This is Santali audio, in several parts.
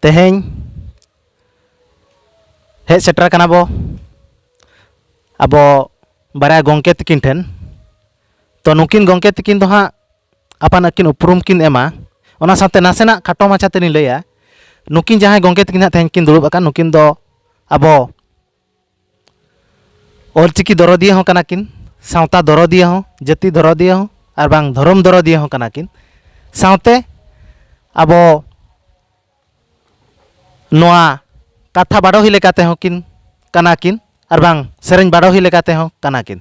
ᱛᱮᱦᱮᱧ ᱦᱮᱡ ᱥᱮᱴᱮᱨ ᱠᱟᱱᱟ ᱵᱚ ᱟᱵᱚ ᱵᱟᱨᱭᱟ ᱜᱚᱢᱠᱮ ᱛᱟᱹᱠᱤᱱ ᱴᱷᱮᱱ ᱛᱚ ᱱᱩᱠᱤᱱ ᱜᱚᱢᱠᱮ ᱛᱟᱹᱠᱤᱱ ᱫᱚ ᱦᱟᱸᱜ ᱟᱯᱟᱱ ᱟᱹᱠᱤᱱ ᱩᱯᱨᱩᱢ ᱠᱤᱱ ᱮᱢᱟ ᱚᱱᱟ ᱥᱟᱶᱛᱮ ᱱᱟᱥᱮᱱᱟᱜ ᱠᱷᱟᱴᱚ ᱢᱟᱪᱷᱟ ᱛᱮᱞᱤᱧ ᱞᱟᱹᱭᱟ ᱱᱩᱠᱤᱱ ᱡᱟᱦᱟᱸᱭ ᱜᱚᱢᱠᱮ ᱛᱟᱹᱠᱤᱱ ᱦᱟᱸᱜ ᱛᱮᱦᱮᱧ ᱠᱤᱱ ᱫᱩᱲᱩᱵ ᱟᱠᱟᱱ ᱱᱩᱠᱤᱱ ᱫᱚ ᱟᱵᱚ ᱚᱞᱪᱤᱠᱤ ᱫᱚᱨᱚᱫᱤᱭᱟᱹ ᱦᱚᱸ ᱠᱟᱱᱟ ᱠᱤᱱ ᱥᱟᱶᱛᱟ ᱫᱚᱨᱚᱫᱤᱭᱟᱹ ᱦᱚᱸ ᱡᱟᱹᱛᱤ ᱫᱚᱨᱚᱫᱤᱭᱟᱹ ᱦᱚᱸ ᱟᱨ ᱵᱟᱝ ᱫᱷᱚᱨᱚᱢ ᱫᱚᱨᱚᱫᱤᱭᱟᱹ ᱦᱚᱸ ᱠᱟᱱᱟ ᱠᱤᱱ ᱥᱟᱶᱛᱮ ᱟᱵᱚ ᱱᱚᱣᱟ ᱠᱟᱛᱷᱟ ᱵᱟᱰᱚᱦᱤ ᱞᱮᱠᱟ ᱛᱮᱦᱚᱸ ᱠᱤᱱ ᱠᱟᱱᱟ ᱠᱤᱱ ᱟᱨ ᱵᱟᱝ ᱥᱮᱨᱮᱧ ᱵᱟᱰᱚᱦᱤ ᱞᱮᱠᱟ ᱛᱮᱦᱚᱸ ᱠᱟᱱᱟ ᱠᱤᱱ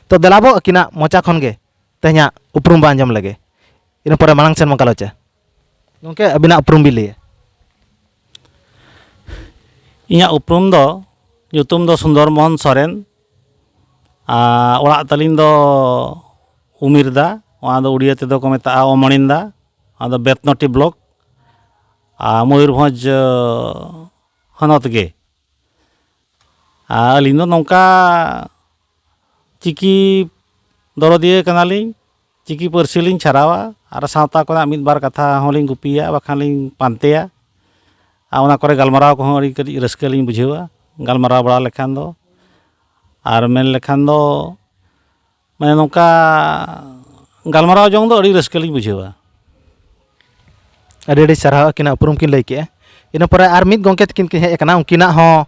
ᱛᱚ ᱫᱮᱞᱟ ᱵᱚ ᱟᱹᱠᱤᱱᱟᱜ ᱢᱚᱪᱟ ᱠᱷᱚᱱ ᱜᱮ ᱛᱮᱦᱮᱧᱟᱜ ᱩᱯᱨᱩᱢ ᱵᱚ ᱟᱸᱡᱚᱢ ᱞᱮᱜᱮ ᱤᱱᱟᱹ ᱯᱚᱨᱮ ᱢᱟᱲᱟᱝ ᱥᱮᱱ ᱵᱚᱱ ᱜᱟᱞᱚᱪᱟ ᱜᱚᱢᱠᱮ ᱟᱹᱵᱤᱱᱟᱜ ᱩᱯᱨᱩᱢ ᱵᱤᱱ ᱞᱟᱹᱭᱟ ᱤᱧᱟᱹᱜ ᱩᱯᱨᱩᱢ ᱫᱚ ᱧᱩᱛᱩᱢ ᱫᱚ ᱥᱩᱱᱫᱚᱨ ᱢᱳᱦᱚᱱ ᱥᱚᱨᱮᱱ ᱟᱨ ᱚᱲᱟᱜ ᱛᱟᱹᱞᱤᱧ ᱫᱚ ᱩᱢᱤᱨᱫᱟ ᱚᱱᱟ ᱫᱚ ᱩᱲᱤᱭᱟᱹ ᱛᱮᱫᱚ ᱠᱚ ᱢᱮᱛᱟᱜᱼᱟ ᱚᱢᱚᱬᱤᱱᱫᱟ ᱚᱱᱟ ᱫᱚ ᱵᱮᱛᱱᱚᱴᱤ ᱵᱞᱚᱠ ᱟᱨ ᱢᱚᱭᱩᱨᱵᱷᱚᱸᱡᱽ ᱦᱚᱱᱚᱛ ᱜᱮ ᱟᱨ ᱟᱹᱞᱤᱧ ᱫᱚ ᱱᱚᱝᱠᱟ ᱪᱤᱠᱤ ᱫᱚᱨᱚᱫᱤᱭᱟᱹ ᱠᱟᱱᱟᱞᱤᱧ ᱪᱤᱠᱤ ᱯᱟᱹᱨᱥᱤ ᱞᱤᱧ ᱪᱷᱟᱨᱟᱣᱟ ᱟᱨ ᱥᱟᱶᱛᱟ ᱠᱚᱨᱮᱱᱟᱜ ᱢᱤᱫ ᱵᱟᱨ ᱠᱟᱛᱷᱟ ᱦᱚᱸᱞᱤᱧ ᱜᱩᱯᱤᱭᱟ ᱵᱟᱠᱷᱟᱱ ᱞᱤᱧ ᱯᱟᱱᱛᱮᱭᱟ ᱟᱨ ᱚᱱᱟ ᱠᱚᱨᱮ ᱜᱟᱞᱢᱟᱨᱟᱣ ᱠᱚᱦᱚᱸ ᱟᱹᱰᱤ ᱠᱟᱹᱴᱤᱡ ᱨᱟᱹᱥᱠᱟᱹ ᱞᱤᱧ ᱵᱩᱡᱷᱟᱹᱣᱟ ᱜᱟᱞᱢᱟᱨᱟᱣ ᱵᱟᱲᱟ ᱞᱮᱠᱷᱟᱱ ᱫᱚ ᱟᱨ ᱢᱮᱱ ᱞᱮᱠᱷᱟᱱ ᱫᱚ ᱢᱟᱱᱮ ᱱᱚᱝᱠᱟ ᱜᱟᱞᱢᱟᱨᱟᱣ ᱡᱚᱝ ᱫᱚ ᱟᱹᱰᱤ ᱨᱟᱹᱥᱠᱟᱹ ᱞᱤᱧ ᱵᱩᱡᱷᱟᱹᱣᱟ ᱟᱹᱰᱤ ᱟᱹᱰᱤ ᱥᱟᱨᱦᱟᱣ ᱟᱹᱠᱤᱱᱟᱜ ᱩᱯᱨᱩᱢ ᱠᱤᱱ ᱞᱟᱹᱭ ᱠᱮᱜᱼᱟ ᱤᱱᱟᱹ ᱯᱚᱨᱮ ᱟᱨ ᱢᱤᱫ ᱜᱚᱢᱠᱮ ᱛᱟᱹᱠᱤᱱ ᱠᱤᱱ ᱦᱮᱡ ᱠᱟᱱᱟ ᱩᱱᱠᱤᱱᱟᱜ ᱦᱚᱸ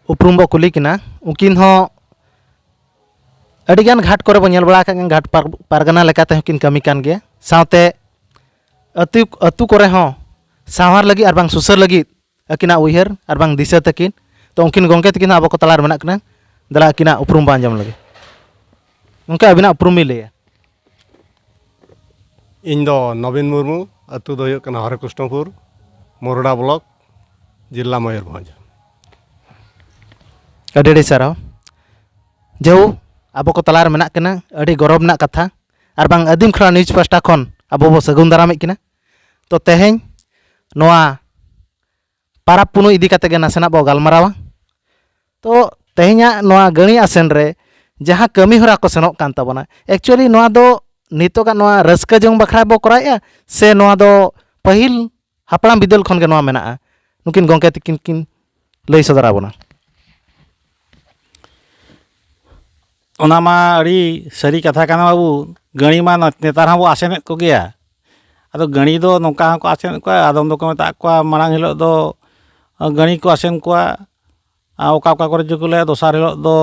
ᱩᱯᱨᱩᱢ ᱵᱚ ᱠᱩᱞᱤ ᱠᱤᱱᱟ ᱩᱱᱠᱤᱱ ᱦᱚᱸ ᱟᱹᱰᱤ ᱜᱟᱱ ᱜᱷᱟᱴ ᱠᱚᱨᱮ ᱵᱚ ᱧᱮᱞ ᱵᱟᱲᱟ ᱟᱠᱟᱫ ᱠᱤᱱ ᱜᱷᱟᱴ ᱯᱟᱨᱜᱟᱱᱟ ᱞᱮᱠᱟ ᱛᱮᱦᱚᱸ ᱠᱤᱱ ᱠᱟᱹᱢᱤ ᱠᱟᱱ ᱜᱮᱭᱟ ᱥᱟᱶᱛᱮ ᱟᱹᱛᱩ ᱟᱹᱛᱩ ᱠᱚᱨᱮ ᱦᱚᱸ ᱥᱟᱶᱟᱨ ᱞᱟᱹᱜᱤᱫ ᱟᱨ ᱵᱟᱝ ᱥᱩᱥᱟᱹᱨ ᱞᱟᱹᱜᱤᱫ ᱟᱹᱠᱤᱱᱟᱜ ᱩᱭᱦᱟᱹᱨ ᱟᱨ ᱵᱟᱝ ᱫᱤᱥᱟᱹ ᱛᱟᱹᱠᱤᱱ ᱛᱚ ᱩᱱᱠᱤᱱ ᱜᱚᱢᱠᱮ ᱛᱟᱹᱠᱤᱱ ᱦᱚᱸ ᱟᱵᱚ ᱠᱚ ᱛᱟᱞᱟᱨᱮ ᱢᱮᱱᱟᱜ ᱠᱤᱱᱟ ᱫᱮᱞᱟ ᱟᱹᱠᱤᱱᱟᱜ ᱩᱯᱨᱩᱢ ᱵᱚᱱ ᱟᱸᱡᱚᱢ ᱞᱮᱜᱮ ᱜᱚᱢᱠᱮ ᱟᱹᱵᱤᱱᱟᱜ ᱩᱯᱨᱩᱢ ᱵᱤᱱ ᱞᱟᱹᱭᱟ ᱤᱧ ᱫᱚ ᱱᱚᱵᱤᱱ ᱢᱩᱨᱢᱩ ᱟᱛᱳ ᱫᱚ ᱦᱩᱭᱩᱜ ᱠᱟᱱᱟ ᱦᱚᱨᱮ ᱠᱨᱤᱥᱱᱚᱯᱩᱨ ᱢᱚᱨᱚᱰᱟ ᱵᱞᱚᱠ ᱡᱮᱞᱟ ᱢᱚᱭᱩᱨᱵᱷᱚᱸᱡᱽ ᱟᱹᱰᱤ ᱟᱹᱰᱤ ᱥᱟᱨᱦᱟᱣ ᱡᱮᱦᱩ ᱟᱵᱚ ᱠᱚ ᱛᱟᱞᱟᱨᱮ ᱢᱮᱱᱟᱜ ᱠᱤᱱᱟ ᱟᱹᱰᱤ ᱜᱚᱨᱚᱵᱽ ᱨᱮᱱᱟᱜ ᱠᱟᱛᱷᱟ ᱟᱨ ᱵᱟᱝ ᱟᱹᱫᱤᱢ ᱠᱷᱚᱱᱟᱜ ᱱᱤᱭᱩᱡᱽ ᱯᱟᱥᱴᱟ ᱠᱷᱚᱱ ᱟᱵᱚ ᱵᱚ ᱥᱟᱹᱜᱩᱱ ᱫᱟᱨᱟᱢᱮᱫ ᱠᱤᱱᱟ ᱛᱚ ᱛᱮᱦᱮᱧ ᱱᱚᱣᱟ ᱯᱟᱨᱟᱵᱽ ᱯᱩᱱᱟᱹᱭ ᱤᱫᱤ ᱠᱟᱛᱮ ᱜᱮ ᱱᱟᱥᱮᱱᱟᱜ ᱵᱚ ᱜᱟᱞᱢᱟᱨᱟᱣᱟ ᱛᱚ ᱛᱮᱦᱮᱧᱟᱜ ᱱᱚᱣᱟ ᱜᱟᱹᱬᱤ ᱟᱥᱮᱱ ᱨᱮ ᱡᱟᱦᱟᱸ ᱠᱟᱹᱢᱤ ᱦᱚᱨᱟ ᱠᱚ ᱥᱮᱱᱚᱜ ᱠᱟᱱ ᱛᱟᱵᱚᱱᱟ ᱮᱠᱪᱩᱭᱮᱞᱤ ᱱᱚᱣᱟ ᱫᱚ ᱱᱤᱛᱚᱜᱟᱜ ᱱᱚᱣᱟ ᱨᱟᱹᱥᱠᱟᱹ ᱡᱚᱝ ᱵᱟᱠᱷᱨᱟ ᱵᱚ ᱠᱚᱨᱟᱣᱮᱜᱼᱟ ᱥᱮ ᱱᱚᱣᱟ ᱫᱚ ᱯᱟᱹᱦᱤᱞ ᱦᱟᱯᱲᱟᱢ ᱵᱤᱫᱟᱹᱞ ᱠᱷᱚᱱ ᱜᱮ ᱱᱚᱣᱟ ᱢᱮᱱᱟᱜᱼᱟ ᱱᱩᱠᱤᱱ ᱜᱚᱢᱠᱮ ᱛᱟᱹᱠᱤᱱ ᱠᱤᱱ ᱞᱟᱹᱭ ᱥᱚᱫᱚᱨᱟᱵᱚᱱᱟ ᱚᱱᱟ ᱢᱟ ᱟᱹᱰᱤ ᱥᱟᱹᱨᱤ ᱠᱟᱛᱷᱟ ᱠᱟᱱᱟ ᱵᱟᱹᱵᱩ ᱜᱟᱹᱲᱤ ᱢᱟ ᱱᱮᱛᱟᱨ ᱦᱚᱸᱵᱚᱱ ᱟᱥᱮᱱᱮᱫ ᱠᱚᱜᱮᱭᱟ ᱟᱫᱚ ᱜᱟᱹᱲᱤ ᱫᱚ ᱱᱚᱝᱠᱟ ᱦᱚᱸᱠᱚ ᱟᱥᱮᱱᱮᱫ ᱠᱚᱣᱟ ᱟᱫᱚᱢ ᱫᱚᱠᱚ ᱢᱮᱛᱟᱜ ᱠᱚᱣᱟ ᱢᱟᱲᱟᱝ ᱦᱤᱞᱳᱜ ᱫᱚ ᱜᱟᱹᱲᱤ ᱠᱚ ᱟᱥᱮᱱ ᱠᱚᱣᱟ ᱟᱨ ᱚᱠᱟ ᱚᱠᱟ ᱠᱚᱨᱮ ᱪᱚᱠᱚ ᱞᱟᱹᱭᱟ ᱫᱚᱥᱟᱨ ᱦᱤᱞᱳᱜ ᱫᱚ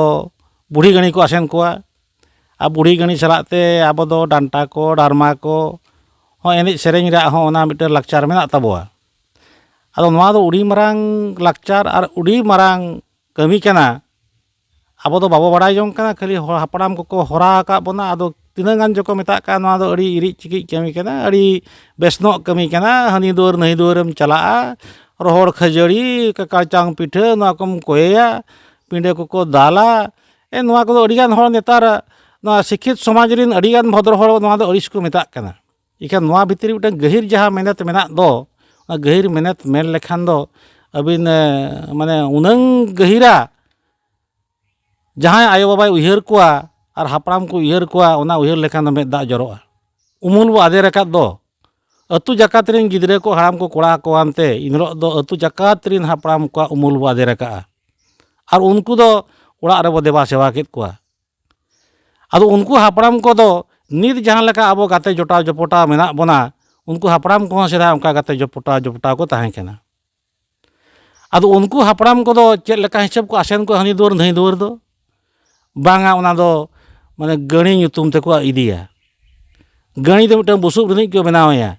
ᱵᱩᱲᱦᱤ ᱜᱟᱹᱲᱤ ᱠᱚ ᱟᱥᱮᱱ ᱠᱚᱣᱟ ᱟᱨ ᱵᱩᱲᱦᱤ ᱜᱟᱹᱲᱤ ᱥᱟᱞᱟᱜ ᱛᱮ ᱟᱵᱚ ᱫᱚ ᱰᱟᱱᱴᱟ ᱠᱚ ᱰᱟᱨᱢᱟ ᱠᱚ ᱦᱚᱸ ᱮᱱᱮᱡ ᱥᱮᱨᱮᱧ ᱨᱮᱭᱟᱜ ᱦᱚᱸ ᱚᱱᱟ ᱢᱤᱫᱴᱮᱱ ᱞᱟᱠᱪᱟᱨ ᱢᱮᱱᱟᱜ ᱛᱟᱵᱚᱣᱟ ᱟᱫᱚ ᱱᱚᱣᱟ ᱫᱚ ᱟᱹᱰᱤ ᱢᱟᱨᱟᱝ ᱞᱟᱠᱪᱟᱨ ᱟᱨ ᱟᱹᱰᱤ ᱢᱟᱨᱟᱝ ᱠᱟᱹᱢᱤ ᱠᱟᱱᱟ ᱟᱵᱚ ᱫᱚ ᱵᱟᱵᱚ ᱵᱟᱲᱟᱭ ᱡᱚᱝ ᱠᱟᱱᱟ ᱠᱷᱟᱹᱞᱤ ᱦᱚᱲ ᱦᱟᱯᱲᱟᱢ ᱠᱚᱠᱚ ᱦᱚᱨᱟ ᱟᱠᱟᱫ ᱵᱚᱱᱟ ᱟᱫᱚ ᱛᱤᱱᱟᱹᱜ ᱜᱟᱱ ᱪᱚᱠᱚ ᱢᱮᱛᱟᱜ ᱠᱟᱱ ᱱᱚᱣᱟ ᱫᱚ ᱟᱹᱰᱤ ᱤᱨᱤᱡ ᱪᱤᱠᱤᱡ ᱠᱟᱹᱢᱤ ᱠᱟᱱᱟ ᱟᱹᱰᱤ ᱵᱮᱥ ᱧᱚᱜ ᱠᱟᱹᱢᱤ ᱠᱟᱱᱟ ᱦᱟᱹᱱᱤ ᱫᱩᱣᱟᱹᱨ ᱱᱟᱹᱭ ᱫᱩᱣᱟᱹᱨᱮᱢ ᱪᱟᱞᱟᱜᱼᱟ ᱨᱚᱦᱚᱲ ᱠᱷᱟᱹᱡᱟᱹᱲᱤ ᱠᱟᱲᱪᱟᱝ ᱯᱤᱴᱷᱟᱹ ᱱᱚᱣᱟ ᱠᱚᱢ ᱠᱚᱭᱮᱭᱟ ᱯᱤᱰᱟᱹ ᱠᱚᱠᱚ ᱫᱟᱞᱟ ᱮ ᱱᱚᱣᱟ ᱠᱚᱫᱚ ᱟᱹᱰᱤ ᱜᱟᱱ ᱦᱚᱲ ᱱᱮᱛᱟᱨ ᱱᱚᱣᱟ ᱥᱤᱠᱠᱷᱤᱛ ᱥᱚᱢᱟᱡᱽ ᱨᱮᱱ ᱟᱹᱰᱤ ᱜᱟᱱ ᱵᱷᱚᱫᱽᱨᱚ ᱦᱚᱲ ᱱᱚᱣᱟ ᱫᱚ ᱟᱹᱲᱤᱥ ᱠᱚ ᱢᱮᱛᱟᱜ ᱠᱟᱱᱟ ᱤᱠᱷᱟᱹᱱ ᱱᱚᱣᱟ ᱵᱷᱤᱛᱨᱤ ᱨᱮ ᱢᱤᱫᱴᱟᱝ ᱜᱟᱹᱦᱤᱨ ᱡᱟᱦᱟᱸ ᱢᱮᱱᱮᱛ ᱢᱮᱱᱟᱜ ᱫᱚ ᱚᱱᱟ ᱜᱟᱹᱦᱤᱨ ᱢᱮᱱᱮᱛ ᱢᱮᱱ ᱞᱮᱠᱷᱟᱱ ᱫᱚ ᱟᱹᱵᱤᱱ ᱢᱟᱱᱮ ᱩᱱᱟᱹᱝ ᱜᱟᱹᱦᱤᱨᱟ ᱡᱟᱦᱟᱸᱭ ᱟᱭᱳ ᱵᱟᱵᱟᱭ ᱩᱭᱦᱟᱹᱨ ᱠᱚᱣᱟ ᱟᱨ ᱦᱟᱯᱲᱟᱢ ᱠᱚ ᱩᱭᱦᱟᱹᱨ ᱠᱚᱣᱟ ᱚᱱᱟ ᱩᱭᱦᱟᱹᱨ ᱞᱮᱠᱷᱟᱱ ᱫᱚ ᱢᱮᱫ ᱫᱟᱜ ᱡᱚᱨᱚᱜᱼᱟ ᱩᱢᱩᱞ ᱵᱚᱱ ᱟᱫᱮᱨ ᱟᱠᱟᱫ ᱫᱚ ᱟᱛᱳ ᱡᱟᱠᱟᱛ ᱨᱮᱱ ᱜᱤᱫᱽᱨᱟᱹ ᱠᱚ ᱦᱟᱲᱟᱢ ᱠᱚ ᱠᱚᱲᱟ ᱠᱚ ᱟᱱᱛᱮ ᱮᱱ ᱦᱤᱞᱳᱜ ᱫᱚ ᱟᱛᱳ ᱡᱟᱠᱟᱛ ᱨᱮᱱ ᱦᱟᱯᱲᱟᱢ ᱠᱚᱣᱟᱜ ᱩᱢᱩᱞ ᱵᱚᱱ ᱟᱫᱮᱨ ᱟᱠᱟᱫᱼᱟ ᱟᱨ ᱩᱱᱠᱩ ᱫᱚ ᱚᱲᱟᱜ ᱨᱮᱵᱚᱱ ᱫᱮᱵᱟ ᱥᱮᱵᱟ ᱠᱮᱫ ᱠᱚᱣᱟ ᱟᱫᱚ ᱩᱱᱠᱩ ᱦᱟᱯᱲᱟᱢ ᱠᱚᱫᱚ ᱱᱤᱛ ᱡᱟᱦᱟᱸ ᱞᱮᱠᱟ ᱟᱵᱚ ᱜᱟᱛᱮ ᱡᱚᱴᱟᱣ ᱡᱚᱯᱚᱴᱟᱣ ᱢᱮᱱᱟᱜ ᱵᱚᱱᱟ ᱩᱱᱠᱩ ᱦᱟᱯᱲᱟᱢ ᱠᱚᱦᱚᱸ ᱥᱮᱫᱟᱭ ᱚᱱᱠᱟ ᱜᱟᱛᱮ ᱡᱚᱯᱚᱴᱟᱣ ᱡᱚᱯᱚᱴᱟᱣ ᱠᱚ ᱛᱟᱦᱮᱸ ᱠᱟᱱᱟ ᱟᱫᱚ ᱩᱱᱠᱩ ᱦᱟᱯᱲᱟᱢ ᱠᱚᱫᱚ ᱪᱮᱫ ᱞᱮᱠᱟ ᱦᱤᱥᱟᱹᱵ ᱠᱚ ᱟᱥᱮᱱ ᱠᱚᱣᱟ ᱦᱟᱹᱱᱤ ᱫᱩᱣᱟᱹᱨ ᱱᱟᱹᱭ ᱫᱩᱣᱟᱹᱨ ᱫᱚ ᱵᱟᱝᱟ ᱚᱱᱟ ᱫᱚ ᱢᱟᱱᱮ ᱜᱟᱹᱲᱤ ᱧᱩᱛᱩᱢ ᱛᱮᱠᱚ ᱤᱫᱤᱭᱟ ᱜᱟᱹᱬᱤ ᱫᱚ ᱢᱤᱫᱴᱟᱝ ᱵᱩᱥᱩᱵ ᱨᱤᱱᱤᱡ ᱠᱚ ᱵᱮᱱᱟᱣ ᱮᱭᱟ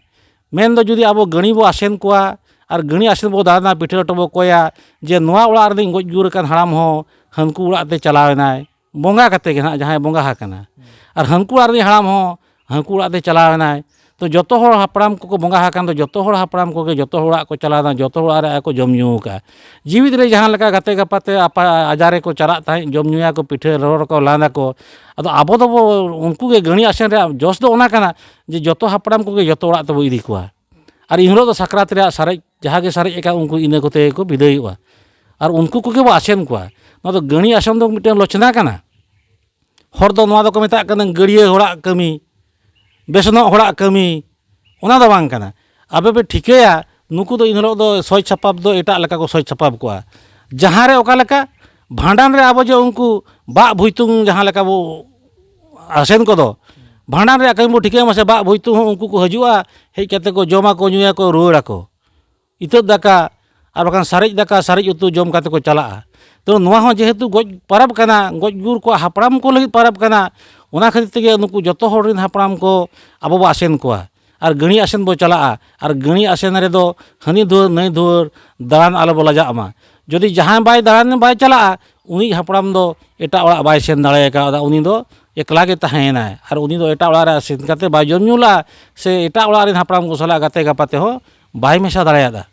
ᱢᱮᱱᱫᱚ ᱡᱩᱫᱤ ᱟᱵᱚ ᱜᱟᱹᱬᱤ ᱵᱚ ᱟᱥᱮᱱ ᱠᱚᱣᱟ ᱟᱨ ᱜᱟᱹᱬᱤ ᱟᱥᱮᱱ ᱵᱚ ᱫᱟᱬᱟᱱᱟ ᱯᱤᱴᱷᱟᱹ ᱞᱮᱴᱚ ᱵᱚ ᱠᱚᱭᱟ ᱡᱮ ᱱᱚᱣᱟ ᱚᱲᱟᱜ ᱨᱤᱱᱤᱡ ᱜᱚᱡ ᱜᱩᱨ ᱟᱠᱟᱱ ᱦᱟᱲᱟᱢ ᱦᱚᱸ ᱦᱟᱹᱱᱠᱩ ᱚᱲᱟᱜ ᱛᱮ ᱪᱟᱞᱟᱣ ᱮᱱᱟᱭ ᱵᱚᱸᱜᱟ ᱠᱟᱛᱮ ᱜᱮ ᱱᱟᱜ ᱡᱟᱦᱟᱸᱭ ᱵᱚᱸᱜᱟ ᱟᱠᱟᱱᱟ ᱟᱨ ᱦᱟᱹᱱᱠᱩ ᱚᱲᱟᱜ ᱨᱤᱱᱤᱡ ᱦᱟᱲᱟᱢ ᱦᱚᱸ ᱦᱟᱹᱱᱠᱩ ᱚᱲᱟᱜ ᱛᱮ ᱪᱟᱞᱟᱣ ᱮᱱᱟᱭ ᱛᱚ ᱡᱚᱛᱚ ᱦᱚᱲ ᱦᱟᱯᱲᱟᱢ ᱠᱚᱠᱚ ᱵᱚᱸᱜᱟ ᱟᱠᱟᱱ ᱫᱚ ᱡᱚᱛᱚ ᱦᱚᱲ ᱦᱟᱯᱲᱟᱢ ᱠᱚᱜᱮ ᱡᱚᱛᱚ ᱦᱚᱲ ᱚᱲᱟᱜ ᱠᱚ ᱪᱟᱞᱟᱣ ᱮᱱᱟ ᱡᱚᱛᱚ ᱦᱚᱲ ᱚᱲᱟᱜ ᱨᱮ ᱟᱠᱚ ᱡᱚᱢ ᱧᱩ ᱟᱠᱟᱫᱼᱟ ᱡᱤᱣᱤᱫ ᱨᱮ ᱡᱟᱦᱟᱸ ᱞᱮᱠᱟ ᱜᱟᱛᱮ ᱜᱟᱯᱟᱛᱮ ᱟᱯᱟ ᱟᱡᱟᱨ ᱨᱮᱠᱚ ᱪᱟᱞᱟᱜ ᱛᱟᱦᱮᱸᱫ ᱡᱚᱢ ᱧᱩᱭᱟᱠᱚ ᱯᱤᱴᱷᱟᱹ ᱨᱚᱲ ᱟᱠᱚ ᱞᱟᱸᱫᱟ ᱟᱠᱚ ᱟᱫᱚ ᱟᱵᱚ ᱫᱚᱵᱚ ᱩᱱᱠᱩ ᱜᱮ ᱜᱟᱹᱬᱤ ᱟᱥᱮᱱ ᱨᱮᱭᱟᱜ ᱡᱚᱥ ᱫᱚ ᱚᱱᱟ ᱠᱟᱱᱟ ᱡᱮ ᱡᱚᱛᱚ ᱦᱟᱯᱲᱟᱢ ᱠᱚᱜᱮ ᱡᱚᱛᱚ ᱚᱲᱟᱜ ᱛᱮᱵᱚ ᱤᱫᱤ ᱠᱚᱣᱟ ᱟᱨ ᱤᱱ ᱦᱤᱞᱳᱜ ᱫᱚ ᱥᱟᱠᱨᱟᱛ ᱨᱮᱭᱟᱜ ᱥᱟᱨᱮᱡ ᱡᱟᱦᱟᱸ ᱜᱮ ᱥᱟᱨᱮᱡ ᱟᱠᱟᱱ ᱩᱱᱠᱩ ᱤᱱᱟᱹ ᱠᱚᱛᱮ ᱜᱮᱠᱚ ᱵᱤᱫᱟᱹᱭᱚᱜᱼᱟ ᱟᱨ ᱩᱱᱠᱩ ᱠᱚᱜᱮ ᱵᱚ ᱟᱥᱮᱱ ᱠᱚᱣᱟ ᱱᱚᱣᱟ ᱫᱚ ᱜᱟᱹᱬᱤ ᱟᱥᱮᱱ ᱫᱚ ᱢᱤᱫᱴᱮᱱ ᱞᱚᱪᱷᱱᱟ ᱠᱟᱱᱟ ᱦᱚᱲ ᱫᱚ ᱱᱚᱣᱟ ᱫᱚᱠᱚ ᱢᱮᱛᱟᱜ ᱠᱟᱱᱟ ᱜᱟᱹᱲᱭᱟᱹ ᱦᱚᱲᱟᱜ ᱠᱟᱹᱢᱤ ᱵᱮᱥᱱᱚᱜ ᱦᱚᱲᱟᱜ ᱠᱟᱹᱢᱤ ᱚᱱᱟ ᱫᱚ ᱵᱟᱝ ᱠᱟᱱᱟ ᱟᱯᱮ ᱯᱮ ᱴᱷᱤᱠᱟᱹᱭᱟ ᱱᱩᱠᱩ ᱫᱚ ᱤᱱ ᱦᱤᱞᱳᱜ ᱫᱚ ᱥᱚᱡᱽ ᱥᱟᱯᱟᱯ ᱫᱚ ᱮᱴᱟᱜ ᱞᱮᱠᱟ ᱠᱚ ᱥᱚᱡᱽ ᱥᱟᱯᱟᱯ ᱠᱚᱜᱼᱟ ᱡᱟᱦᱟᱸ ᱨᱮ ᱚᱠᱟ ᱞᱮᱠᱟ ᱵᱷᱟᱸᱰᱟᱱ ᱨᱮ ᱟᱵᱚ ᱡᱮ ᱩᱱᱠᱩ ᱵᱟᱜ ᱵᱷᱩᱭᱛᱩᱝ ᱡᱟᱦᱟᱸ ᱞᱮᱠᱟ ᱵᱚ ᱟᱥᱮᱱ ᱠᱚᱫᱚ ᱵᱷᱟᱸᱰᱟᱱ ᱨᱮᱭᱟᱜ ᱠᱟᱹᱢᱤ ᱵᱚ ᱴᱷᱤᱠᱟᱹᱭ ᱢᱟᱥᱮ ᱵᱟᱜ ᱵᱷᱩᱭᱛᱩᱝ ᱦᱚᱸ ᱩᱱᱠᱩ ᱠᱚ ᱦᱤᱡᱩᱜᱼᱟ ᱦᱮᱡ ᱠᱟᱛᱮ ᱠᱚ ᱡᱚᱢᱟᱠᱚ ᱧᱩᱭᱟᱠᱚ ᱨᱩᱣᱟᱹᱲᱟᱠᱚ ᱤᱛᱟᱹᱫ ᱫᱟᱠᱟ ᱟᱨ ᱵᱟᱠᱷᱟᱱ ᱥᱟᱨᱮᱡ ᱫᱟᱠᱟ ᱥᱟᱨᱮᱡ ᱩᱛᱩ ᱡᱚᱢ ᱠᱟᱛᱮ ᱠᱚ ᱪᱟᱞᱟᱜᱼᱟ ᱛᱚ ᱱᱚᱣᱟ ᱦᱚᱸ ᱡᱮᱦᱮᱛᱩ ᱜᱚᱡ ᱯᱟᱨᱟᱵᱽ ᱠᱟᱱᱟ ᱜᱚᱡ ᱜᱩᱨ ᱠᱚᱣᱟᱜ ᱦᱟᱯᱲᱟᱢ ᱠᱚ ᱞᱟᱹᱜᱤᱫ ᱯᱟᱨᱟᱵᱽ ᱠᱟᱱᱟ ᱚᱱᱟ ᱠᱷᱟᱹᱛᱤᱨ ᱛᱮᱜᱮ ᱱᱩᱠᱩ ᱡᱚᱛᱚ ᱦᱚᱲ ᱨᱮᱱ ᱦᱟᱯᱲᱟᱢ ᱠᱚ ᱟᱵᱚ ᱵᱚ ᱟᱥᱮᱱ ᱠᱚᱣᱟ ᱟᱨ ᱜᱟᱹᱲᱤ ᱟᱥᱮᱱ ᱵᱚ ᱪᱟᱞᱟᱜᱼᱟ ᱟᱨ ᱜᱟᱹᱲᱤ ᱟᱥᱮᱱ ᱨᱮᱫᱚ ᱦᱟᱹᱱᱤ ᱫᱩᱣᱟᱹᱨ ᱱᱟᱹᱭ ᱫᱩᱣᱟᱹᱨ ᱫᱟᱬᱟᱱ ᱟᱞᱚ ᱵᱚ ᱞᱟᱡᱟᱜ ᱢᱟ ᱡᱩᱫᱤ ᱡᱟᱦᱟᱸᱭ ᱵᱟᱭ ᱫᱟᱬᱟᱱ ᱵᱟᱭ ᱪᱟᱞᱟᱜᱼᱟ ᱩᱱᱤ ᱦᱟᱯᱲᱟᱢ ᱫᱚ ᱮᱴᱟᱜ ᱚᱲᱟᱜ ᱵᱟᱭ ᱥᱮᱱ ᱫᱟᱲᱮ ᱠᱟᱣᱫᱟ ᱩᱱᱤ ᱫᱚ ᱮᱠᱞᱟ ᱜᱮ ᱛᱟᱦᱮᱸᱭᱮᱱᱟᱭ ᱟᱨ ᱩᱱᱤ ᱫᱚ ᱮᱴᱟᱜ ᱚᱲᱟᱜ ᱨᱮ ᱥᱮᱱ ᱠᱟᱛᱮ ᱵᱟᱭ ᱡᱚᱢ ᱧᱩ ᱞᱟᱜᱼᱟ ᱥᱮ ᱮᱴᱟᱜ ᱚᱲᱟᱜ ᱨᱮᱱ ᱦᱟᱯᱲᱟᱢ ᱠᱚ ᱥᱟᱞᱟᱜ ᱜᱟᱛᱮ ᱜᱟᱯᱟᱛᱮ ᱦᱚᱸ ᱵᱟᱭ ᱢᱮᱥᱟ ᱫᱟᱲᱮᱭᱟᱫᱟ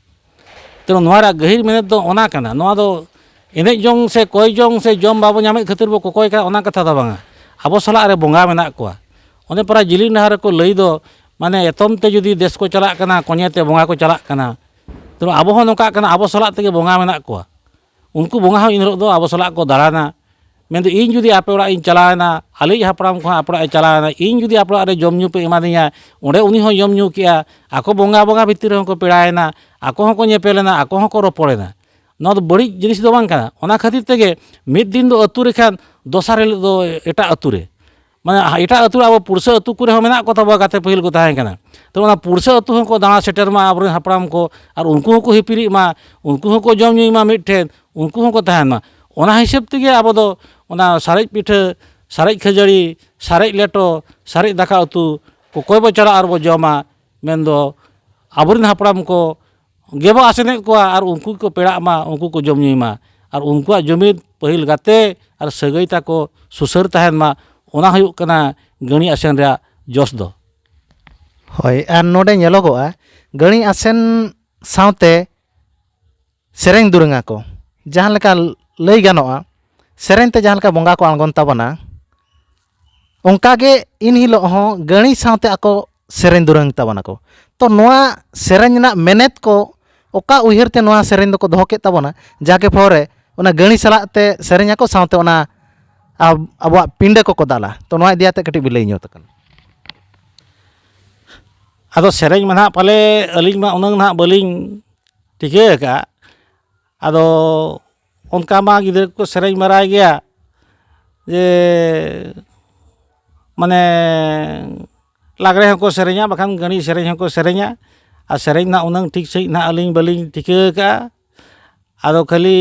ᱛᱮ ᱱᱚᱣᱟ ᱨᱮᱭᱟᱜ ᱜᱟᱹᱦᱤᱨ ᱢᱮᱱᱮᱛ ᱫᱚ ᱚᱱᱟ ᱠᱟᱱᱟ ᱱᱚᱣᱟ ᱫᱚ ᱮᱱᱮᱡ ᱡᱚᱝ ᱥᱮ ᱠᱚᱭ ᱡᱚᱝ ᱥᱮ ᱡᱚᱢ ᱵᱟᱵᱚ ᱧᱟᱢᱮᱫ ᱠᱷᱟᱹᱛᱤᱨ ᱵᱚ ᱠᱚᱠᱚᱭ ᱠᱟᱱᱟ ᱚᱱᱟ ᱠᱟᱛᱷᱟ ᱫᱚ ᱵᱟᱝᱟ ᱟᱵᱚ ᱥᱟᱞᱟᱜ ᱨᱮ ᱵᱚᱸᱜᱟ ᱢᱮᱱᱟᱜ ᱠᱚᱣᱟ ᱚᱱᱮ ᱯᱟᱨᱟ ᱡᱤᱞᱤᱧ ᱰᱟᱦᱟᱨ ᱨᱮᱠᱚ ᱞᱟᱹᱭ ᱫᱚ ᱢᱟᱱᱮ ᱮᱛᱚᱢ ᱛᱮ ᱡᱩᱫᱤ ᱫᱮᱥ ᱠᱚ ᱪᱟᱞᱟᱜ ᱠᱟᱱᱟ ᱠᱚᱧᱮ ᱛᱮ ᱵᱚᱸᱜᱟ ᱠᱚ ᱪᱟᱞᱟᱜ ᱠᱟᱱᱟ ᱛᱚ ᱟᱵᱚ ᱦᱚᱸ ᱱᱚᱝᱠᱟᱜ ᱠᱟᱱᱟ ᱟᱵᱚ ᱥᱟᱞᱟᱜ ᱛᱮᱜᱮ ᱵᱚᱸᱜᱟ ᱢᱮᱱᱟᱜ ᱠᱚᱣᱟ ᱩᱱᱠᱩ ᱵᱚᱸᱜᱟ ᱦᱚᱸ ᱤᱱ ᱦᱤᱞᱳᱜ ᱫᱚ ᱟᱵᱚ ᱥᱟᱞᱟᱜ ᱠᱚ ᱫᱟᱬᱟᱱᱟ ᱢᱮᱱ ᱫᱚ ᱤᱧ ᱡᱩᱫᱤ ᱟᱯᱮ ᱚᱲᱟᱜ ᱤᱧ ᱪᱟᱞᱟᱣ ᱮᱱᱟ ᱟᱞᱮᱭᱤᱡ ᱦᱟᱯᱲᱟᱢ ᱠᱚᱦᱚᱸ ᱟᱯᱮ ᱚᱲᱟᱜ ᱮ ᱪᱟᱞᱟᱣ ᱮᱱᱟ ᱤᱧ ᱡᱩᱫᱤ ᱟᱯᱮ ᱚᱲᱟᱜ ᱨᱮ ᱡᱚᱢ ᱧᱩ ᱯᱮ ᱮᱢᱟ ᱫᱤᱧᱟ ᱚᱸᱰᱮ ᱩᱱᱤ ᱦᱚᱸᱭ ᱡᱚᱢ ᱧᱩ ᱠᱮᱜᱼᱟ ᱟᱠᱚ ᱵᱚᱸᱜᱟ ᱵᱚᱸᱜᱟ ᱵᱷᱤᱛᱤᱨ ᱨᱮᱦᱚᱸ ᱠᱚ ᱯᱮᱲᱟᱭᱮᱱᱟ ᱟᱠᱚ ᱦᱚᱸᱠᱚ ᱧᱮᱯᱮᱞ ᱮᱱᱟ ᱟᱠᱚ ᱦᱚᱸᱠᱚ ᱨᱚᱯᱚᱲ ᱮᱱᱟ ᱱᱚᱣᱟ ᱫᱚ ᱵᱟᱹᱲᱤᱡ ᱡᱤᱱᱤᱥ ᱫᱚ ᱵᱟᱝ ᱠᱟᱱᱟ ᱚᱱᱟ ᱠᱷᱟᱹᱛᱤᱨ ᱛᱮᱜᱮ ᱢᱤᱫ ᱫᱤᱱ ᱫᱚ ᱟᱹᱛᱩ ᱨᱮᱠᱷᱟᱱ ᱫᱚᱥᱟᱨ ᱦᱤᱞᱳᱜ ᱫᱚ ᱮᱴᱟᱜ ᱟᱹᱛᱩ ᱨᱮ ᱢᱟᱱᱮ ᱮᱴᱟᱜ ᱟᱹᱛᱩ ᱟᱵᱚ ᱯᱩᱲᱥᱟᱹ ᱟᱹᱛᱩ ᱠᱚᱨᱮ ᱦᱚᱸ ᱢᱮᱱᱟᱜ ᱠᱚ ᱛᱟᱵᱚᱣᱟ ᱜᱟᱛᱮ ᱯᱟᱹᱦᱤᱞ ᱠᱚ ᱛᱟᱦᱮᱸ ᱠᱟᱱᱟ ᱛᱚ ᱚᱱᱟ ᱯᱩᱲᱥᱟᱹ ᱟᱹᱛᱩ ᱦᱚᱸᱠᱚ ᱫᱟᱬᱟ ᱥᱮᱴᱮᱨ ᱢᱟ ᱟᱵᱚᱨᱮᱱ ᱦᱟᱯᱲᱟᱢ ᱠᱚ ᱟᱨ ᱩᱱᱠᱩ ᱦᱚᱸᱠᱚ ᱦᱤᱯᱤᱨᱤᱜ ᱢᱟ ᱩᱱᱠᱩ ᱦᱚᱸᱠᱚ ᱡᱚᱢ ᱧᱩᱭ ᱢᱟ ᱢᱤᱫ ᱴᱷᱮᱱ ᱩᱱᱠᱩ ᱦᱚᱸᱠᱚ ᱛᱟᱦᱮᱱ ᱢᱟ ᱚᱱᱟ ᱦᱤᱥᱟᱹᱵ ᱛᱮᱜᱮ ᱟᱵᱚ ᱫᱚ ᱚᱱᱟ ᱥᱟᱨᱮᱡ ᱯᱤᱴᱷᱟᱹ ᱥᱟᱨᱮᱡ ᱠᱷᱟᱹᱡᱟᱹᱲᱤ ᱥᱟᱨᱮᱡ ᱞᱮᱴᱚ ᱥᱟᱨᱮᱡ ᱫᱟᱠᱟ ᱩᱛᱩ ᱚᱠᱚᱭ ᱵᱚᱱ ᱪᱟᱞᱟᱜᱼᱟ ᱟᱨ ᱵᱚᱱ ᱡᱚᱢᱟ ᱢᱮᱱᱫᱚ ᱟᱵᱚᱨᱮᱱ ᱦᱟᱯᱲᱟᱢ ᱠᱚ ᱜᱮᱵᱚ ᱟᱥᱮᱱᱮᱫ ᱠᱚᱣᱟ ᱟᱨ ᱩᱱᱠᱩ ᱜᱮᱠᱚ ᱯᱮᱲᱟᱜ ᱢᱟ ᱩᱱᱠᱩ ᱠᱚ ᱡᱚᱢ ᱧᱩᱭ ᱢᱟ ᱟᱨ ᱩᱱᱠᱩᱣᱟᱜ ᱡᱩᱢᱤᱫ ᱯᱟᱹᱦᱤᱞ ᱜᱟᱛᱮ ᱟᱨ ᱥᱟᱹᱜᱟᱹᱭ ᱛᱟᱠᱚ ᱥᱩᱥᱟᱹᱨ ᱛᱟᱦᱮᱱ ᱢᱟ ᱚᱱᱟ ᱦᱩᱭᱩᱜ ᱠᱟᱱᱟ ᱜᱟᱹᱬᱤ ᱟᱥᱮᱱ ᱨᱮᱭᱟᱜ ᱡᱚᱥ ᱫᱚ ᱦᱳᱭ ᱟᱨ ᱱᱚᱰᱮ ᱧᱮᱞᱚᱜᱚᱜᱼᱟ ᱜᱟᱹᱬᱤ ᱟᱥᱮᱱ ᱥᱟᱶᱛᱮ ᱥᱮᱨᱮᱧ ᱫᱩᱨᱟᱹᱝ ᱟᱠᱚ ᱡᱟᱦᱟᱸ ᱞᱮᱠᱟ ᱞᱟᱹᱭ ᱜᱟᱱᱚᱜᱼᱟ ᱥᱮᱨᱮᱧ ᱛᱮ ᱡᱟᱦᱟᱸ ᱞᱮᱠᱟ ᱵᱚᱸᱜᱟ ᱠᱚ ᱟᱬᱜᱚᱱ ᱛᱟᱵᱚᱱᱟ ᱚᱱᱠᱟ ᱜᱮ ᱤᱱ ᱦᱤᱞᱳᱜ ᱦᱚᱸ ᱜᱟᱹᱬᱤ ᱥᱟᱶᱛᱮ ᱟᱠᱚ ᱥᱮᱨᱮᱧ ᱫᱩᱨᱟᱹᱝ ᱛᱟᱵᱚᱱᱟ ᱠᱚ ᱛᱚ ᱱᱚᱣᱟ ᱥᱮᱨᱮᱧ ᱨᱮᱱᱟᱜ ᱢᱮᱱᱮᱛ ᱠᱚ ᱚᱠᱟ ᱩᱭᱦᱟᱹᱨ ᱛᱮ ᱱᱚᱣᱟ ᱥᱮᱨᱮᱧ ᱫᱚᱠᱚ ᱫᱚᱦᱚ ᱠᱮᱫ ᱛᱟᱵᱚᱱᱟ ᱡᱟᱜᱮ ᱯᱷᱚᱨᱮ ᱚᱱᱟ ᱜᱟᱹᱬᱤ ᱥᱟᱞᱟᱜ ᱛᱮ ᱥᱮᱨᱮᱧ ᱟᱠᱚ ᱥᱟᱶᱛᱮ ᱚᱱᱟ ᱟᱵᱚᱣᱟᱜ ᱯᱤᱸᱰᱟᱹ ᱠᱚᱠᱚ ᱫᱟᱞᱟ ᱛᱚ ᱱᱚᱣᱟ ᱤᱫᱤ ᱠᱟᱛᱮ ᱠᱟᱹᱴᱤᱡ ᱵᱤᱱ ᱞᱟᱹᱭ ᱧᱚᱜ ᱠᱟᱱᱟ ᱟᱫᱚ ᱥᱮᱨᱮᱧ ᱢᱟ ᱱᱟᱦᱟᱜ ᱯᱟᱞᱮ ᱟᱹᱞᱤᱧ ᱢᱟ ᱩᱱᱟᱹᱜ ᱱᱟᱦᱟᱜ ᱵᱟᱹᱞᱤᱧ ᱴᱷᱤᱠᱟᱹ ᱟᱠᱟᱫᱼᱟ ᱟᱫᱚ ᱚᱱᱠᱟ ᱢᱟ ᱜᱤᱫᱽᱨᱟᱹ ᱠᱚᱠᱚ ᱥᱮᱨᱮᱧ ᱵᱟᱲᱟᱭ ᱜᱮᱭᱟ ᱡᱮ ᱢᱟᱱᱮ ᱞᱟᱜᱽᱬᱮ ᱦᱚᱸᱠᱚ ᱥᱮᱨᱮᱧᱟ ᱵᱟᱠᱷᱟᱱ ᱜᱟᱺᱲᱤ ᱥᱮᱨᱮᱧ ᱦᱚᱸᱠᱚ ᱥᱮᱨᱮᱧᱟ ᱟᱨ ᱥᱮᱨᱮᱧ ᱨᱮᱱᱟᱜ ᱩᱱᱟᱹᱝ ᱴᱷᱤᱠ ᱥᱟᱺᱦᱤᱡ ᱱᱟᱜ ᱟᱹᱞᱤᱧ ᱵᱟᱹᱞᱤᱧ ᱴᱷᱤᱠᱟᱹ ᱠᱟᱜᱼᱟ ᱟᱫᱚ ᱠᱷᱟᱹᱞᱤ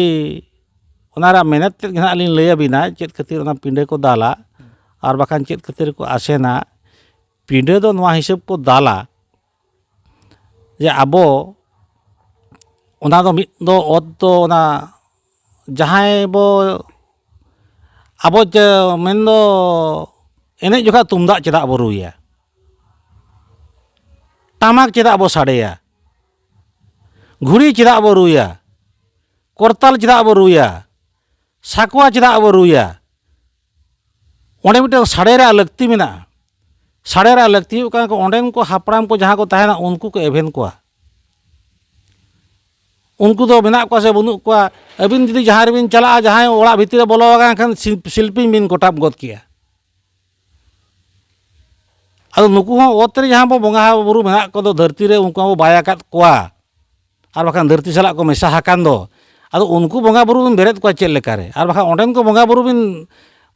ᱚᱱᱟ ᱨᱮᱭᱟᱜ ᱢᱮᱱᱮᱛ ᱛᱮᱫ ᱜᱮ ᱱᱟᱜ ᱞᱤᱧ ᱞᱟᱹᱭ ᱟᱵᱤᱱᱟ ᱪᱮᱫ ᱠᱷᱟᱹᱛᱤᱨ ᱚᱱᱟ ᱯᱤᱸᱰᱟᱹ ᱠᱚ ᱫᱟᱞᱟ ᱟᱨ ᱵᱟᱠᱷᱟᱱ ᱪᱮᱫ ᱠᱷᱟᱹᱛᱤᱨ ᱠᱚ ᱟᱥᱮᱱᱟ ᱯᱤᱸᱰᱟᱹ ᱫᱚ ᱱᱚᱣᱟ ᱦᱤᱥᱟᱹᱵ ᱠᱚ ᱫᱟᱞᱟ ᱡᱮ ᱟᱵᱚ ᱚᱱᱟ ᱫᱚ ᱢᱤᱫ ᱫᱚ ᱚᱛ ᱫᱚ ᱚᱱᱟ ᱡᱟᱦᱟᱸᱭ ᱵᱚ ᱟᱵᱚ ᱡᱮ ᱢᱮᱱ ᱫᱚ ᱮᱱᱮᱡ ᱡᱚᱠᱷᱟᱡ ᱛᱩᱢᱫᱟᱜ ᱪᱮᱫᱟᱜ ᱵᱚ ᱨᱩᱭᱟ ᱴᱟᱢᱟᱠ ᱪᱮᱫᱟᱜ ᱵᱚ ᱥᱟᱰᱮᱭᱟ ᱜᱷᱩᱲᱤ ᱪᱮᱫᱟᱜ ᱵᱚ ᱨᱩᱭᱟ ᱠᱚᱨᱛᱟᱞ ᱪᱮᱫᱟᱜ ᱵᱚ ᱨᱩᱭᱟ ᱥᱟᱠᱣᱟ ᱪᱮᱫᱟᱜ ᱵᱚ ᱨᱩᱭᱟ ᱚᱸᱰᱮ ᱢᱤᱫᱴᱮᱱ ᱥᱟᱰᱮ ᱨᱮᱭᱟᱜ ᱞᱟᱹᱠᱛᱤ ᱢᱮᱱᱟᱜᱼᱟ ᱥᱟᱰᱮ ᱨᱮᱭᱟᱜ ᱞᱟᱹᱠᱛᱤ ᱦᱩᱭᱩᱜ ᱠᱟᱱᱟ ᱚᱸᱰᱮᱱ ᱠᱚ ᱦᱟᱯᱲᱟᱢ ᱠᱚ ᱡᱟᱦᱟᱸ ᱠᱚ ᱛᱟᱦᱮᱱᱟ ᱩᱱᱠᱩ ᱠᱚ ᱮᱵᱷᱮᱱ ᱠᱚᱣᱟ ᱩᱱᱠᱩ ᱫᱚ ᱢᱮᱱᱟᱜ ᱠᱚᱣᱟ ᱥᱮ ᱵᱟᱹᱱᱩᱜ ᱠᱚᱣᱟ ᱟᱹᱵᱤᱱ ᱡᱩᱫᱤ ᱡᱟᱦᱟᱸ ᱨᱮᱵᱤᱱ ᱪᱟᱞᱟᱜᱼᱟ ᱡᱟᱦᱟᱸᱭ ᱚᱲᱟᱜ ᱵᱷᱤᱛᱤᱨ ᱨᱮ ᱵᱚᱞᱚ ᱟᱠᱟᱱ ᱠᱷᱟᱱ ᱥᱤᱞᱯᱤᱧ ᱵᱤᱱ ᱠᱚᱴᱟᱵ ᱜᱚᱫ ᱠᱮᱭᱟ ᱟᱫᱚ ᱱᱩᱠᱩ ᱦᱚᱸ ᱚᱛ ᱨᱮ ᱡᱟᱦᱟᱸ ᱵᱚ ᱵᱚᱸᱜᱟ ᱵᱩᱨᱩ ᱢᱮᱱᱟᱜ ᱠᱚᱫᱚ ᱫᱷᱟᱹᱨᱛᱤ ᱨᱮ ᱩᱱᱠᱩ ᱦᱚᱸ ᱵᱚ ᱵᱟᱭ ᱟᱠᱟᱫ ᱠᱚᱣᱟ ᱟᱨ ᱵᱟᱠᱷᱟᱱ ᱫᱷᱟᱹᱨᱛᱤ ᱥᱟᱞᱟᱜ ᱠᱚ ᱢᱮᱥᱟ ᱟᱠᱟᱱ ᱫᱚ ᱟᱫᱚ ᱩᱱᱠᱩ ᱵᱚᱸᱜᱟ ᱵᱩᱨᱩ ᱵᱤᱱ ᱵᱮᱨᱮᱫ ᱠᱚᱣᱟ ᱪᱮᱫ ᱞᱮᱠᱟᱨᱮ ᱟᱨ ᱵᱟᱠᱷᱟᱱ ᱚᱸᱰᱮᱱ ᱠᱚ ᱵᱚᱸᱜᱟ ᱵᱩᱨᱩ ᱵᱤᱱ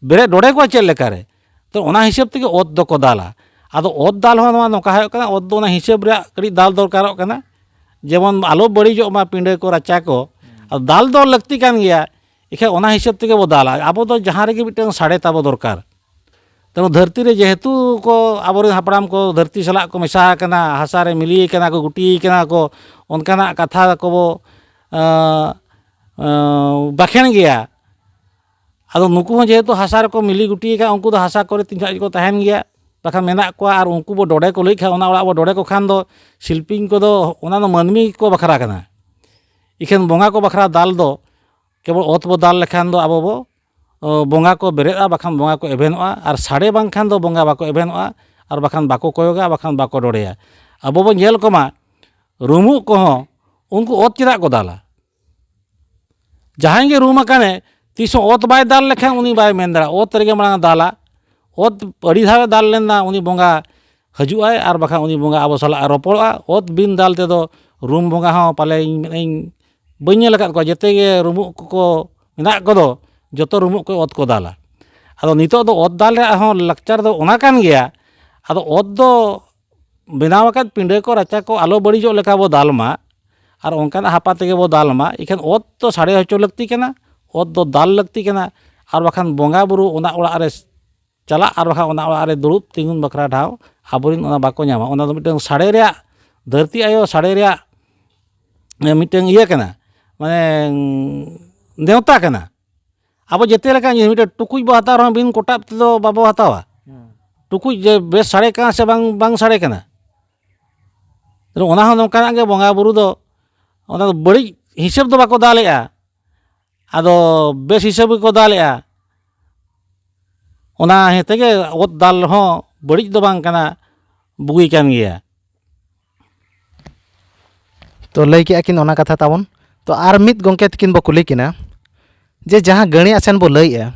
ᱵᱮᱨᱮᱫ ᱰᱚᱰᱮ ᱠᱚᱣᱟ ᱪᱮᱫ ᱞᱮᱠᱟᱨᱮ ᱛᱚ ᱚᱱᱟ ᱦᱤᱥᱟᱹᱵ ᱛᱮᱜᱮ ᱚᱛ ᱫᱚᱠᱚ ᱫᱟᱞᱟ ᱟᱫᱚ ᱚᱛ ᱫᱟᱞ ᱦᱚᱸ ᱱᱚᱣᱟ ᱱᱚᱝᱠᱟ ᱦᱩᱭᱩᱜ ᱠᱟᱱᱟ ᱚᱛ ᱫᱚ ᱚᱱᱟ ᱦᱤᱥᱟᱹᱵ ᱨᱮᱭᱟᱜ ᱠᱟᱹᱴᱤᱡ ᱫᱟᱞ ᱫᱚᱨᱠᱟᱨᱚᱜ ᱠᱟᱱᱟ ᱡᱮᱢᱚᱱ ᱟᱞᱚ ᱵᱟᱹᱲᱤᱡᱚᱜ ᱢᱟ ᱯᱤᱸᱰᱟᱹ ᱠᱚ ᱨᱟᱪᱟ ᱠᱚ ᱟᱫᱚ ᱫᱟᱞ ᱫᱚ ᱞᱟᱹᱠᱛᱤ ᱠᱟᱱ ᱜᱮᱭᱟ ᱮᱠᱷᱟᱡ ᱚᱱᱟ ᱦᱤᱥᱟᱹᱵ ᱛᱮᱜᱮ ᱵᱚ ᱫᱟᱞᱟ ᱟᱵᱚ ᱫᱚ ᱡᱟᱦᱟᱸ ᱨᱮᱜᱮ ᱢᱤᱫᱴᱟᱝ ᱥᱟᱰᱮ ᱛᱟᱵᱚ ᱫᱚᱨᱠᱟᱨ ᱛᱮᱢᱚ ᱫᱷᱟᱹᱨᱛᱤ ᱨᱮ ᱡᱮᱦᱮᱛᱩ ᱠᱚ ᱟᱵᱚᱨᱮᱱ ᱦᱟᱯᱲᱟᱢ ᱠᱚ ᱫᱷᱟᱹᱨᱛᱤ ᱥᱟᱞᱟᱜ ᱠᱚ ᱢᱮᱥᱟ ᱟᱠᱟᱱᱟ ᱦᱟᱥᱟ ᱨᱮ ᱢᱤᱞᱤ ᱟᱠᱟᱱᱟ ᱠᱚ ᱜᱩᱴᱤ ᱟᱠᱟᱱᱟ ᱠᱚ ᱚᱱᱠᱟᱱᱟᱜ ᱠᱟᱛᱷᱟ ᱠᱚᱵᱚ ᱵᱟᱠᱷᱮᱬ ᱜᱮᱭᱟ ᱟᱫᱚ ᱱᱩᱠᱩ ᱦᱚᱸ ᱡᱮᱦᱮᱛᱩ ᱦᱟᱥᱟ ᱨᱮᱠᱚ ᱢᱤᱞᱤ ᱜᱩᱴᱤ ᱟᱠᱟᱱᱟ ᱩᱱᱠᱩ ᱫᱚ ᱦᱟᱥᱟ ᱠᱚᱨᱮ ᱛᱤᱱ ᱡᱚᱠᱷᱟᱡ ᱜᱮᱠᱚ ᱛᱟᱦᱮᱱ ᱜᱮᱭᱟ ᱵᱟᱠᱷᱟᱱ ᱢᱮᱱᱟᱜ ᱠᱚᱣᱟ ᱟᱨ ᱩᱱᱠᱩ ᱵᱚ ᱰᱚᱰᱮ ᱠᱚ ᱞᱟᱹᱭ ᱠᱷᱟᱡ ᱚᱱᱟ ᱚᱲᱟᱜ ᱵᱚ ᱰᱚᱰᱮ ᱠᱚ ᱠᱷᱟᱱ ᱫᱚ ᱥᱤᱞᱯᱤᱧ ᱠᱚᱫᱚ ᱚᱱᱟ ᱫᱚ ᱢᱟᱹᱱᱢᱤ ᱜᱮᱠᱚ ᱵᱟᱠᱷᱨᱟ ᱠᱟᱱᱟ ᱤᱠᱷᱟᱹᱱ ᱵᱚᱸᱜᱟ ᱠᱚ ᱵᱟᱠᱷᱨᱟ ᱫᱟᱞ ᱫᱚ ᱠᱮᱵᱚᱞ ᱚᱛ ᱵᱚ ᱫᱟᱞ ᱞᱮᱠᱷᱟᱱ ᱫᱚ ᱟᱵᱚ ᱵᱚ ᱵᱚᱸᱜᱟ ᱠᱚ ᱵᱮᱨᱮᱫᱼᱟ ᱵᱟᱠᱷᱟᱱ ᱵᱚᱸᱜᱟ ᱠᱚ ᱮᱵᱷᱮᱱᱚᱜᱼᱟ ᱟᱨ ᱥᱟᱰᱮ ᱵᱟᱝᱠᱷᱟᱱ ᱫᱚ ᱵᱚᱸᱜᱟ ᱵᱟᱠᱚ ᱮᱵᱷᱮᱱᱚᱜᱼᱟ ᱟᱨ ᱵᱟᱠᱷᱟᱱ ᱵᱟᱠᱚ ᱠᱚᱭᱚᱜᱟ ᱟᱨ ᱵᱟᱠᱷᱟᱱ ᱵᱟᱠᱚ ᱨᱚᱲᱮᱭᱟ ᱟᱵᱚ ᱵᱚᱱ ᱧᱮᱞ ᱠᱚᱢᱟ ᱨᱩᱢᱩᱜ ᱠᱚᱦᱚᱸ ᱩᱱᱠᱩ ᱚᱛ ᱪᱮᱫᱟᱜ ᱠᱚ ᱫᱟᱞᱟ ᱡᱟᱦᱟᱸᱭ ᱜᱮ ᱨᱩᱢ ᱟᱠᱟᱱᱮ ᱛᱤᱥ ᱦᱚᱸ ᱚᱛ ᱵᱟᱭ ᱫᱟᱞ ᱞᱮᱠᱷᱟᱱ ᱩᱱᱤ ᱵᱟᱭ ᱢᱮᱱ ᱫᱟᱲᱮᱭᱟᱜᱼᱟ ᱚᱛ ᱨᱮᱜᱮ ᱢᱟᱲᱟᱝ ᱮ ᱫᱟᱞᱟ ᱚᱛ ᱟᱹᱰᱤ ᱫᱷᱟᱣᱮ ᱫᱟᱞ ᱞᱮᱱᱟ ᱩᱱᱤ ᱵᱚᱸᱜᱟ ᱦᱟᱹᱡᱩᱜ ᱟᱭ ᱟᱨ ᱵᱟᱠᱷᱟᱱ ᱩᱱᱤ ᱵᱚᱸᱜᱟ ᱟᱵᱚ ᱥᱟᱞᱟᱜ ᱮ ᱨᱚᱯᱚᱲᱚᱜᱼᱟ ᱚᱛ ᱵᱤᱱ ᱫᱟᱞ ᱛᱮᱫᱚ ᱨᱩᱢ ᱵᱚᱸᱜᱟ ᱦᱚᱸ ᱯᱟᱞᱮ ᱤᱧ ᱢᱮᱱᱮᱫ ᱟᱹᱧ ᱵᱟᱹᱧ ᱧᱮᱞ ᱟᱠᱟᱫ ᱠᱚᱣᱟ ᱡᱮᱛᱮ ᱜᱮ ᱨᱩᱢᱩᱜ ᱠᱚᱠᱚ ᱢᱮᱱᱟᱜ ᱠᱚᱫᱚ ᱡᱚᱛᱚ ᱨᱩᱢᱩᱜ ᱠᱚ ᱚᱛ ᱠᱚ ᱫᱟᱞᱟ ᱟᱫᱚ ᱱᱤᱛᱳᱜ ᱫᱚ ᱚᱛ ᱫᱟᱞ ᱨᱮᱭᱟᱜ ᱦᱚᱸ ᱞᱟᱠᱪᱟᱨ ᱫᱚ ᱚᱱᱟ ᱠᱟᱱ ᱜᱮᱭᱟ ᱟᱫᱚ ᱚᱛ ᱫᱚ ᱵᱮᱱᱟᱣ ᱟᱠᱟᱫ ᱯᱤᱸᱰᱟᱹ ᱠᱚ ᱨᱟᱪᱟ ᱠᱚ ᱟᱞᱚ ᱵᱟᱹᱲᱤᱡᱚᱜ ᱞᱮᱠᱟ ᱵᱚᱱ ᱫᱟᱞ ᱢᱟ ᱟᱨ ᱚᱱᱠᱟᱱᱟᱜ ᱦᱟᱯᱟ ᱛᱮᱜᱮ ᱵᱚᱱ ᱫᱟᱞ ᱢᱟ ᱤᱠᱷᱟᱹᱱ ᱚᱛ ᱫᱚ ᱥᱟᱰᱮ ᱦᱚᱪᱚ ᱞᱟᱹᱠᱛᱤ ᱠᱟᱱᱟ ᱚᱛ ᱫᱚ ᱫᱟᱞ ᱞᱟᱹᱠᱛᱤ ᱠᱟᱱᱟ ᱟᱨ ᱵᱟᱠᱷᱟᱱ ᱵᱚᱸᱜᱟ ᱵᱩᱨᱩ ᱚᱱᱟ ᱚᱲᱟᱜ ᱨᱮ ᱪᱟᱞᱟᱜ ᱟᱨ ᱵᱟᱠᱷᱟᱱ ᱚᱱᱟ ᱚᱲᱟᱜ ᱨᱮ ᱫᱩᱲᱩᱵ ᱛᱤᱸᱜᱩᱱ ᱵᱟᱠᱷᱨᱟ ᱴᱷᱟᱶ ᱟᱵᱚᱨᱮᱱ ᱚᱱᱟ ᱵᱟᱠᱚ ᱧᱟᱢᱟ ᱚᱱᱟ ᱫᱚ ᱢᱤᱫᱴᱟᱹᱝ ᱥᱟᱰᱮ ᱨᱮᱭᱟᱜ ᱫᱷᱟᱹᱨᱛᱤ ᱟᱭᱳ ᱥᱟᱰᱮ ᱨᱮᱭᱟᱜ ᱢᱤᱫᱴᱟᱹᱝ ᱤᱭᱟᱹ ᱠᱟᱱᱟ ᱢᱟᱱᱮ ᱱᱮᱶᱛᱟ ᱠᱟᱱᱟ ᱟᱵᱚ ᱡᱮᱛᱮ ᱞᱮᱠᱟᱱ ᱡᱤᱱᱤᱥ ᱢᱤᱫᱴᱟᱹᱝ ᱴᱩᱠᱩᱡ ᱵᱚ ᱦᱟᱛᱟᱣ ᱨᱮᱦᱚᱸ ᱵᱤᱱ ᱠᱚᱴᱟᱵ ᱛᱮᱫᱚ ᱵᱟᱵᱚ ᱦᱟᱛᱟᱣᱟ ᱴᱩᱠᱩᱡ ᱡᱮ ᱵᱮᱥ ᱥᱟᱰᱮ ᱠᱟᱱᱟ ᱥᱮ ᱵᱟᱝ ᱵᱟᱝ ᱥᱟᱰᱮ ᱠᱟᱱᱟ ᱚᱱᱟ ᱦᱚᱸ ᱱᱚᱝᱠᱟᱱᱟᱜ ᱜᱮ ᱵᱚᱸᱜᱟ ᱵᱩᱨᱩ ᱫᱚ ᱚᱱᱟ ᱫᱚ ᱵᱟᱹᱲᱤᱡ ᱦᱤᱥᱟᱹᱵᱽ ᱫᱚ ᱵᱟᱠᱚ ᱫᱟᱞᱮᱜᱼᱟ ᱟᱫᱚ ᱵᱮᱥ ᱦᱤᱥᱟᱹᱵ ᱜᱮᱠᱚ ᱫᱟᱞᱮᱜᱼᱟ ᱚᱱᱟ ᱤᱭᱟᱹ ᱛᱮᱜᱮ ᱚᱛ ᱫᱟᱞ ᱦᱚᱸ ᱵᱟᱹᱲᱤᱡ ᱫᱚ ᱵᱟᱝ ᱠᱟᱱᱟ ᱵᱩᱜᱤ ᱠᱟᱱ ᱜᱮᱭᱟ ᱛᱚ ᱞᱟᱹᱭ ᱠᱮᱜᱼᱟ ᱠᱤᱱ ᱚᱱᱟ ᱠᱟᱛᱷᱟ ᱛᱟᱵᱚᱱ ᱛᱚ ᱟᱨ ᱢᱤᱫ ᱜᱚᱢᱠᱮ ᱛᱟᱹᱠᱤᱱ ᱵᱚᱱ ᱠᱩᱞᱤ ᱠᱤᱱᱟ ᱡᱮ ᱡᱟᱦᱟᱸ ᱜᱟᱹᱬᱤ ᱟᱥᱮᱱ ᱵᱚᱱ ᱞᱟᱹᱭᱮᱜᱼᱟ